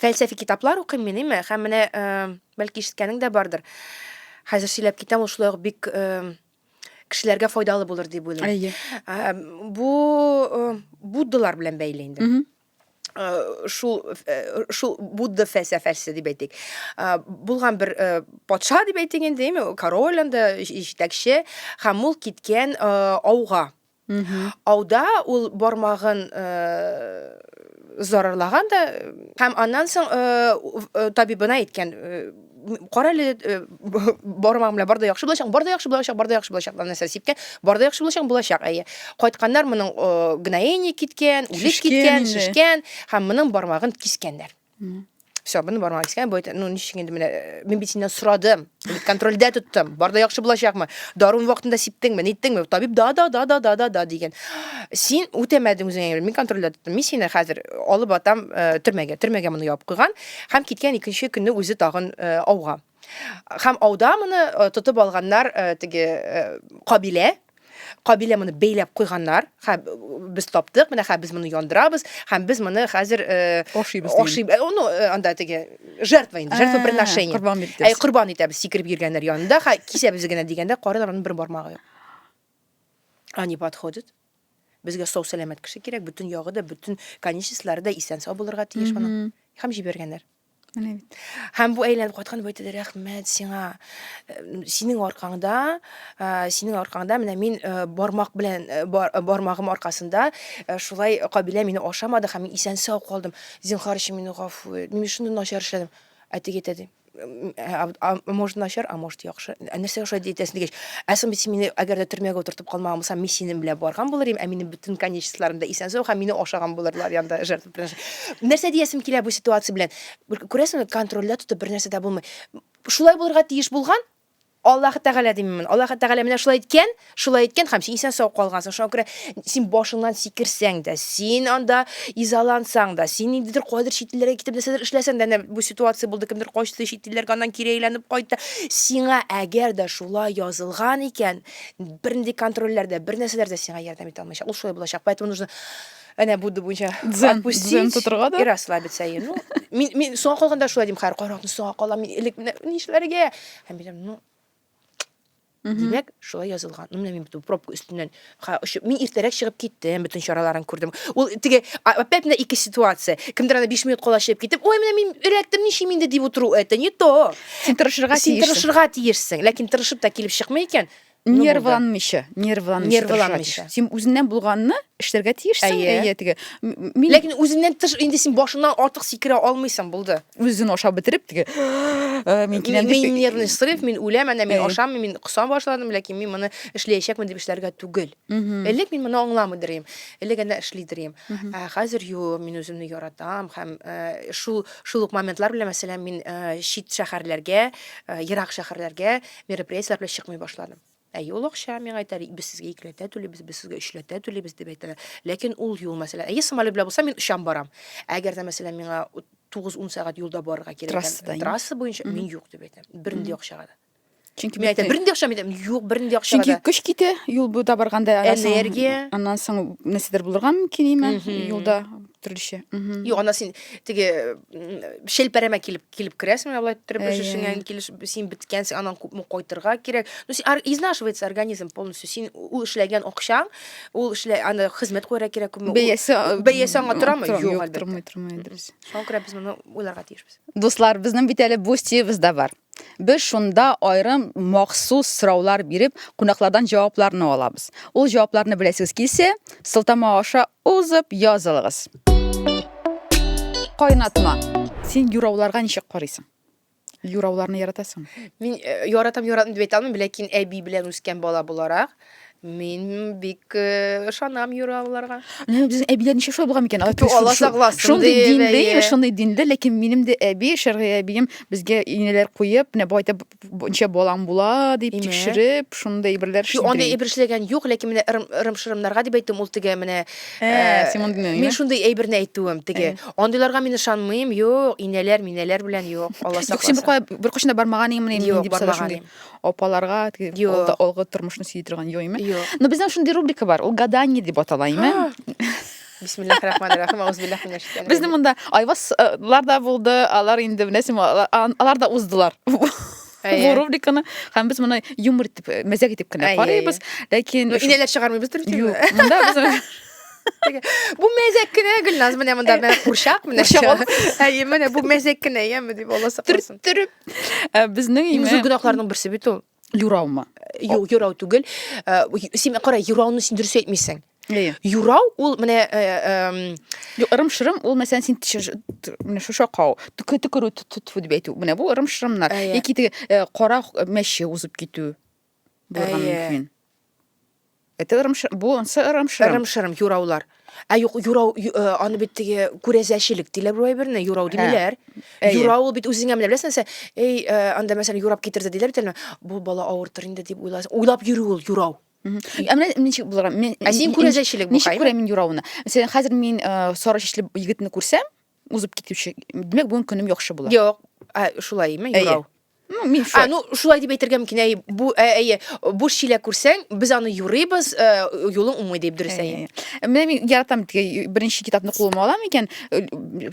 Фәлсәфи китаплар укыйм мин, име? Һәм менә, бәлки ишеткәнең дә бардыр. Хәзер сөйләп китәм, ул шулай ук бик кешеләргә файдалы булыр дип уйлыйм. Әйе. Бу буддалар белән бәйле инде. Шул шул будда фәлсәфәсе дип әйтик. Булган бер патша дип әйтик инде, король анда җитәкче, һәм ул киткән ауга. Ауда ул бармагын зарарлаган да һәм аннан соң табибына әйткән кара әле бармагым белән бар да яхшы булачак бар да яхшы булачак бар да яхшы булачак дип нәрсә сипкән бар да яхшы булачак булачак әйе кайтканнар моның гноение киткән үлеп киткән шешкән һәм моның бармагын кискәннәр Все, моны бармак искән, бу ну ничек инде менә мин бит синнән сорадым. Бит контрольдә тоттым. Бар да яхшы булачакмы? Дарун вакытында сиптеңме? Ниттеңме? Табиб да да да да да да да дигән. Син үтәмәдең үзеңә. Мин контрольдә тоттым. Мин сине хәзер алып атам төрмәгә. Төрмәгә моны ябып куйган һәм киткән икенче көнне үзе тагын ауга. Һәм ауда моны тотып алганнар теге кабилә, кабилә моны бәйләп куйганнар һәм без таптык менә хәзер без моны яндырабыз һәм без моны хәзер ашыйбыз ашыйбыз ну анда теге жертва инде жертвоприношение корбан итәбез әй корбан итәбез сикереп йөргәннәр янында хә кисәбез генә дигәндә карыйлар аның бер бармагы юк они подходят безгә сау сәламәт кеше кирәк бөтен ягы да бөтен конечностьлары да исән сау булырга тиеш аның һәм җибәргәннәр Менә бит. Һәм бу әйләнеп кайткан дип әйтәләр, рәхмәт сиңа. Э, Синең аркаңда, э, синең аркаңда менә мин э, бармак белән э, бар- э, бармагым аркасында э, шулай кабилә мине ашамады һәм мин исән сау калдым. Зинхар өчен мине гафу ит. Мин шундый начар эшләдем. Ә теге әйтә ди. «М, ә, аб- а, Может начар, а может яхшы. Ә нәрсә яхшы дип әйтәсең дигәч, ә соң бит син мине әгәр дә төрмәгә утыртып калмаган булсам, мин синең белән барган булыр идем, ә минем бөтен конечностьларым да исән сау һәм мине ашаган булырлар янда жертва. Нәрсә диясем килә бу ситуация белән? Күрәсеңме, контрольдә тотып бер нәрсә дә булмый. Шулай булырга тиеш булган, Аллаһ Тәгалә диммен. Аллаһ Тәгалә менә шулай иткән, шулай иткән һәм син исән сау калгансың. Шуңа күрә син башыңнан сикерсәң дә, син анда изалансаң да, син ниндидер кайдыр чит илләргә китеп нәрсәдер эшләсәң дә, әнә бу ситуация булды, кемдер качты чит илләргә, аннан кире әйләнеп кайтты. Сиңа әгәр дә шулай язылган икән, бернинди контрольләр дә, бер нәрсәләр дә сиңа ярдәм итә алмаячак. Ул шулай булачак. Поэтому нужно Әнә Будда буенча дзен, дзен тотырга да. И расслабиться. И, ну, мин, мин соңа калганда шулай дим, хәр каракны соңа калам, мин элек менә нишләргә? Һәм мин ну, Димәк, шулай язылган. Ну, менә мин бит пробка өстеннән ха, очып, мин иртәрәк чыгып киттем, бөтен чараларын күрдем. Ул теге опять менә ике ситуация. Кемдер аны 5 минут кала чыгып китеп, ой, менә мин эләктем, ничем инде дип утыру, это не то. Син тырышырга тиешсең. Син тырышырга тиешсең, ләкин тырышып та килеп чыкмый икән, Ну, нервланмыйча нервланмыйча Нервланмыйча. тырышырга тиеш. син үзеңнән булганны эшләргә тиешсең Әйе. әйе теге м- м- мин Ләкин үзеннән тыш инде син башыннан артык сикерә алмыйсың, булды. үзен ашап бетереп теге «Ә, мин киләм Мин, дип мин нервный срыв, мин үләм, әнә мин Әйе. ашамыйм, мин косам башладым, ләкин мин моны эшләячәкмен дип эшләргә түгел. Мгм. Элек мин моны аңламый дирем, элек әнә эшли дирем. Мгм. Ә хәзер юк, мин үземне яратам һәм э, шул шул ук моментлар белән мәсәлән мин э, чит шәһәрләргә, э, ерак шәһәрләргә Мероприятиеләр белән чыкмый башладым. Әйе, ул акча, миңа әйтәләр, без сезгә икеләтә түлибез, без сезгә өчләтә түлибез дип әйтәләр. Ләкин ул юл, мәсәлән, әйе, самолет белән булса, мин очам барам. Әгәр дә, мәсәлән, миңа 9-10 сәгать юлда барырга кирәк икән, Трассада, әйе. трасса буенча, мин юк дип әйтәм. Бернинди акчага да. Чөнки Мин әйтәм, бит- бернинди акча, мин әйтәм, юк, бернинди акчага Чөнки да. көч китә, юл буйда барганда аннан соң- Энергия. Аннан соң нәрсәдер булырга мөмкин име Мгм. юлда төрлечә. Мгм. Юк, ана син теге м, шелпәрәмә килеп килеп керәсең менә болай иттереп эш эшеңә инде килеш син беткәнсең аннан күпме кайтырга кирәк ну син изнашивается организм полностью син ул эшләгән акчаң ул эшлә аны хезмәт куярга кирәк күпме бәясе бәясе аңа торамы юк юк тормый тормый дөрес шуңа күрә без моны уйларга тиешбез дуслар безнең бит әле бустиебыз да бар Без шунда айрым махсус сораулар биреп, кунаклардан җавапларны алабыз. Ул җавапларны беләсегез килсә, сылтама аша Узып язылыгыз. Кайнатма. Син юрауларга ничек карыйсың? Юрауларны яратасың? Мин э, яратам, яратмыйм дип әйтә алмыйм, ләкин әби белән үскән бала буларак, мин бик э, ышанам юрауларга. Менә безнең әбиләр ничек шулай булган микән? Алар Ту, Алла сакласын, Шундый ди, динле, бәйе. шундый динле, ләкин минем дә әби, шәргый әбием безгә инәләр куеп, менә бу әйтеп ничә балаң була дип тикшереп шундый әйберләр эшли. Аны әйбер эшләгән юк, ләкин менә ырым-шырымнарга дип әйттем, ул теге менә э, э, мин шундый әйберне әйтүем теге. Э. Андыйларга мин ышанмыйм, юк, инәләр, минәләр белән юк, Алла сакласын. Юк, син бер кашында бармаган иң менә нинди булса шундый. Апаларга теге алгы тормышны сөйли торган юк име? Но безнең шундый рубрика бар, ул гадание дип атала име? Бисмиллахи рахмани рахим, аузбиллахи минәш шәйтанир Безне раҗим. монда Айвазлар да булды, алар инде беләсең, алар, алар да уздылар. Бу Әйе. рубриканы һәм без моны юмор итеп, э, мәзәк итеп кенә Әйе, карыйбыз. Ләкин Ну, инәләр чыгармыйбыз Юк, дөрес. монда без Бу мәзәк кенә Гөлназ, менә монда менә курчак, менә Курчак ул. ча- Әйе, менә бу мәзәк кенә, яме дип Алла сакласын. төрттереп э, безнең Иң зур имя гөнаһларның берсе бит ул. Юраумы? Юк, юрау түгел. Э, син кара, юрауны син дөрес әйтмисең. Әйе. Юрау ул менә э, э, Юк, ырым-шырым ул мәсәлән син менә шушы акау, төкерү тфу дип әйтү. Менә бу ырым-шырымнар. Әйе. Яки теге э, кара мәче узып китү булырга Әйе. мөмкин. Это ырымшырым, бу онсы ырымшырым. Ырымшырым, юраулар. Ә юк, юрау, э, аны бит теге күрәзәчелек диләр бу әйберне, юрау ә, димиләр. Юрау ул бит үзеңә менә беләсең, нәрсә, эй, э, анда мәсәлән юрап китерде диләр бит әле. Бу бала авыртыр инде дип уйласаң, уйлап йөрү ул юрау. Ә менә ничек булыр? Мин Ә син күрәзәчелек бу, Ничек күрәм мин юрауны? Мәсәлән, хәзер мин э, сары чәчле егетне күрсәм, узып китүче, димәк, бүген көнем яхшы була. Юк, ә шулаймы юрау? Ну, мишә. А, ну, шулай дип әйтергә мөмкин, әй, бу, ә, әйе, буш чиләк күрсәң, без аны юрыйбыз, ә, юлың уңмый дип дөрес әйе. Менә мин яратам теге беренче китапны кулыма алам икән, э,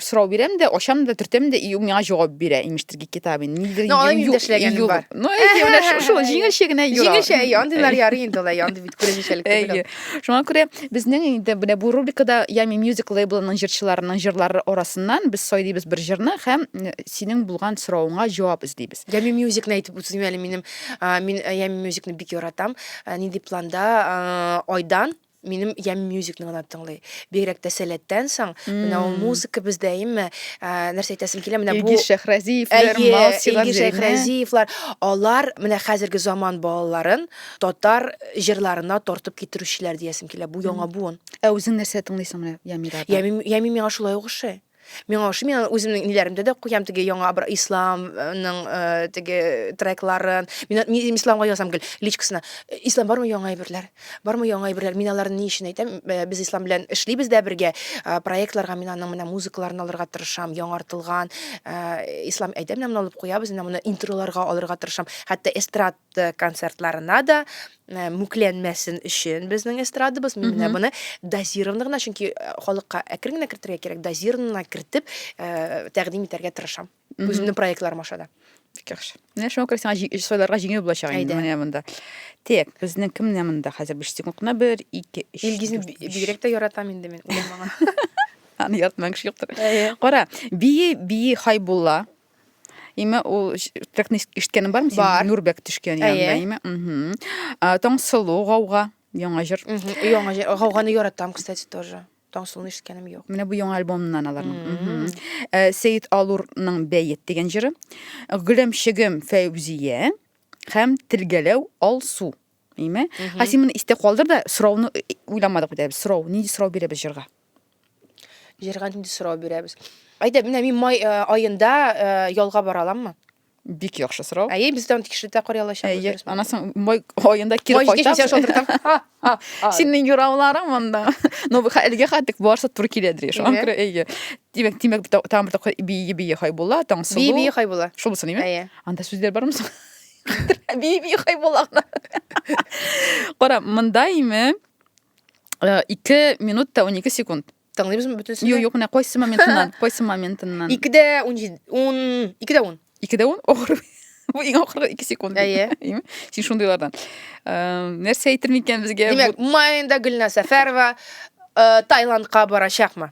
сорау бирәм дә, ачам да, төртәм дә, и ул миңа җавап бирә, имештер китап инде. Нидер Ну, алай минем дә эшләгәнем бар. Ну, әйе, менә шул җиңелчә генә юра. Җиңелчә, әйе, андыйлар ярый инде, алай андый бит күрәзәчәлек түгел. Шуңа күрә безнең инде менә бу рубрикада Ями Music лейблының җырчыларының җырлары арасыннан без сайлыйбыз бер җырны һәм э, синең булган соравыңа җавап эзлибез. Ями Мюзикны әйтеп үтсен әле минем. а, Мин э, Ями Мюзикны бик яратам. Э, Нинди планда а, Айдан минем Ями Мюзикны гына тыңлый. Бигрәк тә сәләттән соң. Менә ул музыка бездә әйеме? Ә, Нәрсә әйтәсем килә? Менә бу Илгиз Шәхразиевләр, Әйе, Малсилар Илгиз Зәйнә. Шәйхразиевлар, алар менә хәзерге заман балаларын татар җырларына тартып китерүчеләр диясем килә, бу яңа буын. Ә үзең нәрсә тыңлыйсың менә Ямирада? Ями, ями миңа шулай ук ошый. Миңа ошый, мин үземнең ниләремдә дә куям теге яңа бер исламның э, теге трекларын. Мин, мин исламга язам гел личкасына. Ислам бармы яңа әйберләр? Бармы яңа әйберләр? Мин аларны ни өчен әйтәм? Э, Без ислам белән эшлибез дә бергә. Э, Проектларга мин аның менә музыкаларын алырга тырышам, яңартылган э, ислам әйдә менә моны алып куябыз, менә моны интроларга алырга тырышам. Хәтта эстрад концертларына да э, мүкләнмәсен өчен безнең эстрадабыз мин менә моны дозированно гына чөнки э, халыкка әкрен генә кертергә кирәк дозированно кертеп э, тәкъдим итәргә тырышам үземнең проектларым аша да бик яхшы менә шуңа күрә сиңа җи- сайларга җиңел булачак инде менә монда так безнең кем менә монда хәзер биш секунд кына бер ике өч илгизне дүрт, би- бигрәк тә яратам инде мин уйламаган аны яратмаган кеше юктыр кара бии бии хайбулла Име ул трекны ишеткәнең бармы? Бар. Нурбәк төшкән янында име? Угу. Таңсылу гауга яңа җыр. Яңа җыр. Гауганы яратам, кстати, тоже. Таңсылуны ишеткәнем юк. Менә бу яңа альбомнан аларның. Э, Сәет Алурның Бәет дигән җыры. Гөләмчегем Фәүзия һәм Тилгәләү Алсу. Әйме? Ха син моны истә калдыр да, сорауны э, э, уйламадык бит без. Сорау, нинди сорау бирәбез җырга? Җырга нинди сорау бирәбез? Әйдә, менә мин май э, аенда ялга бара аламмы? Бик яхшы сорау. Әйе, без дан тикшереп тә карый алачак. Әйе, анасың май аенда кире кайтам. Синең юрауларың монда. Но әлегә хәтлек барса туры килә диреш. Анкра әйе. Димәк, димәк тамырда бии бии хай була, таң сулу. Бии бии хай була. Шул булсын, әйе. Анда сүзләр бармы соң? би би хай булагына кара монда име э, ике минут та унике секунд тыңлыйбызмы бөтенсен юк юк менә кайсы моментыннан кайсы моментыннан ике дә ун җиде ун ике дә ун ике дә ун ахыр бу иң ахыргы ике секунд әйе син шундыйлардан э, нәрсә әйтер микән безгә димәк маенда гөлназ сәфәрова э, таиландка барачакмы